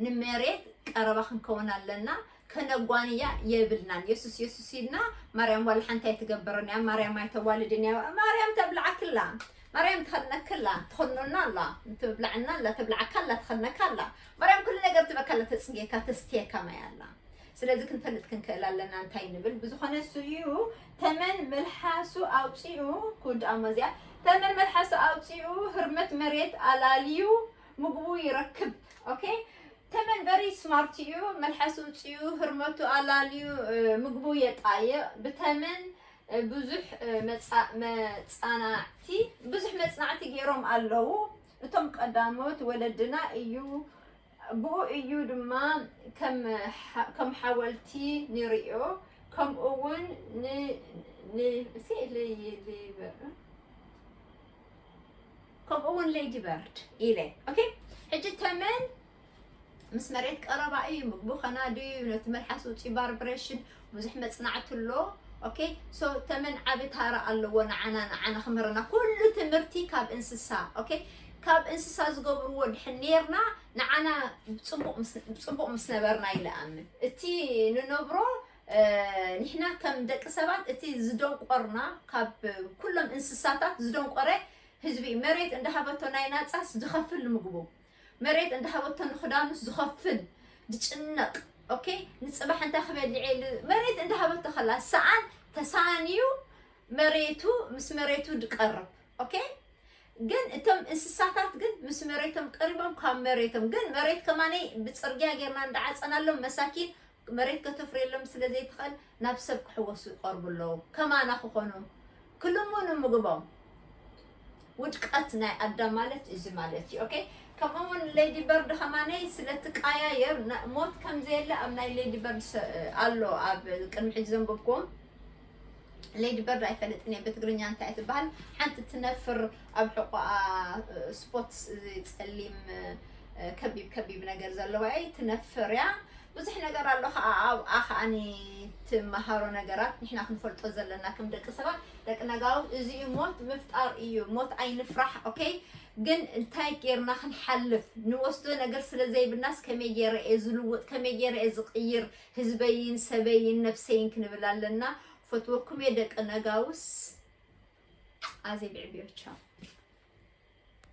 ንመሬት ቀረባ ክንከውን ኣለና ከነጓንያ የብልናን የሱስ የሱስ ኢልና ማርያም ዋላ ሓንቲ ኣይትገብርን እያ ማርያም ኣይተዋልድን እያ ማርያም ተብልዓክላ ማርያም ትኸነክላ ትኸኖና ኣላ ትብላዕና ኣላ ትብላዓካ ኣላ ትኸነካ ኣላ ማርያም ኩሉ ነገር ትበካ ኣላ ተፅጌካ ተስትየካ ማይ ኣላ ስለዚ ክንፈልጥ ክንክእል ኣለና እንታይ ንብል ብዝኾነ እሱ እዩ ተመን መልሓሱ ኣውፂኡ ክውድኣሞ እዚኣ ተመን መልሓሱ ኣውፂኡ ህርመት መሬት ኣላልዩ ምግቡ ይረክብ ኦኬ ተመን በሪ ስማርት እዩ መልሓሱ እፅኡ ህርመቱ ኣላልዩ ምግቡ የጣይቕ ብተመን ብዙሕ መፃናዕቲ ብዙሕ መፅናዕቲ ገይሮም ኣለዉ እቶም ቀዳሞት ወለድና እዩ ብኡ እዩ ድማ ከም ሓወልቲ ንርእዮ፣ ከምኡውን ንሌዲ በርድ ኢለ። ሕጂ ተመን ምስ መሬት ቀረባ እዩ፣ ምግቡ ከናዲ እዩ፣ ነቲ መልሓስ ውጽኢ ቫይብሬሽን ብዙሕ መጽናዕቲ ኣሎ ok so ተመን ዓቢ ታራ ኣለዎ ንዓና ንዓና ክምህረና ኩሉ ትምህርቲ ካብ እንስሳ ok ካብ እንስሳ ዝገብርዎ ድሕን ነርና ንዓና ጽቡቕ ምስ ነበርና ይለኣምን እቲ ንነብሮ ንሕና ከም ደቂ ሰባት እቲ ዝደንቆርና ካብ ኩሎም እንስሳታት ዝደንቆረ ህዝቢ መሬት እንዳሃበቶ ናይ ናጻስ ዝኸፍል ምግቡ መሬት እንዳሃበቶ ንክዳኑስ ዝኸፍል ዝጭነቅ ኦኬ ንፅባሕ እንታይ ክበልዕ እየ መሬት እንዳሃበቶ ከላ ሰኣን ተሳንዩ መሬቱ ምስ መሬቱ ድቀርብ ኦኬ ግን እቶም እንስሳታት ግን ምስ መሬቶም ቀሪቦም ካብ መሬቶም ግን መሬት ከማነይ ብፅርግያ ጌርና እንዳዓፀናሎም መሳኪን መሬት ከተፍርየሎም ስለ ዘይትኽእል ናብ ሰብ ክሕወሱ ይቐርቡ ኣለዉ ከማና ክኾኑ ክልሙኑ ምግቦም ውድቀት ናይ ኣዳም ማለት እዚ ማለት እዩ ኦኬ ከምኡ እውን ሌዲ በርድ ከማነይ ስለትቀያየር ሞት ከምዘየለ ኣብ ናይ ሌዲ በርድ ኣሎ ኣብ ቅድሚ ሕጂ ዘንበብክዎም ሌዲ በርድ ኣይፈልጥን እየ ብትግርኛ እንታይ ትበሃል ሓንቲ ትነፍር ኣብ ሕቆኣ ስፖትስ እዚ ፀሊም ከቢብ ከቢብ ነገር ዘለዋ እያ ትነፍር እያ ብዙሕ ነገር ኣሎ ከዓ ኣብኣ ከዓኒ ትመሃሮ ነገራት ንሕና ክንፈልጦ ዘለና ከም ደቂ ሰባት ደቂ ነጋዊ እዚ እዩ ሞት ምፍጣር እዩ ሞት ኣይንፍራሕ ኦኬ ግን እንታይ ጌርና ክንሓልፍ ንወስዶ ነገር ስለ ዘይብልናስ ከመይ ጌረ እየ ዝልውጥ ከመይ ጌረ እየ ዝቕይር ህዝበይን ሰበይን ነብሰይን ክንብል ኣለና ፈትወኩምየ ደቂ ነጋውስ ኣዜብ ዕብዮቻው።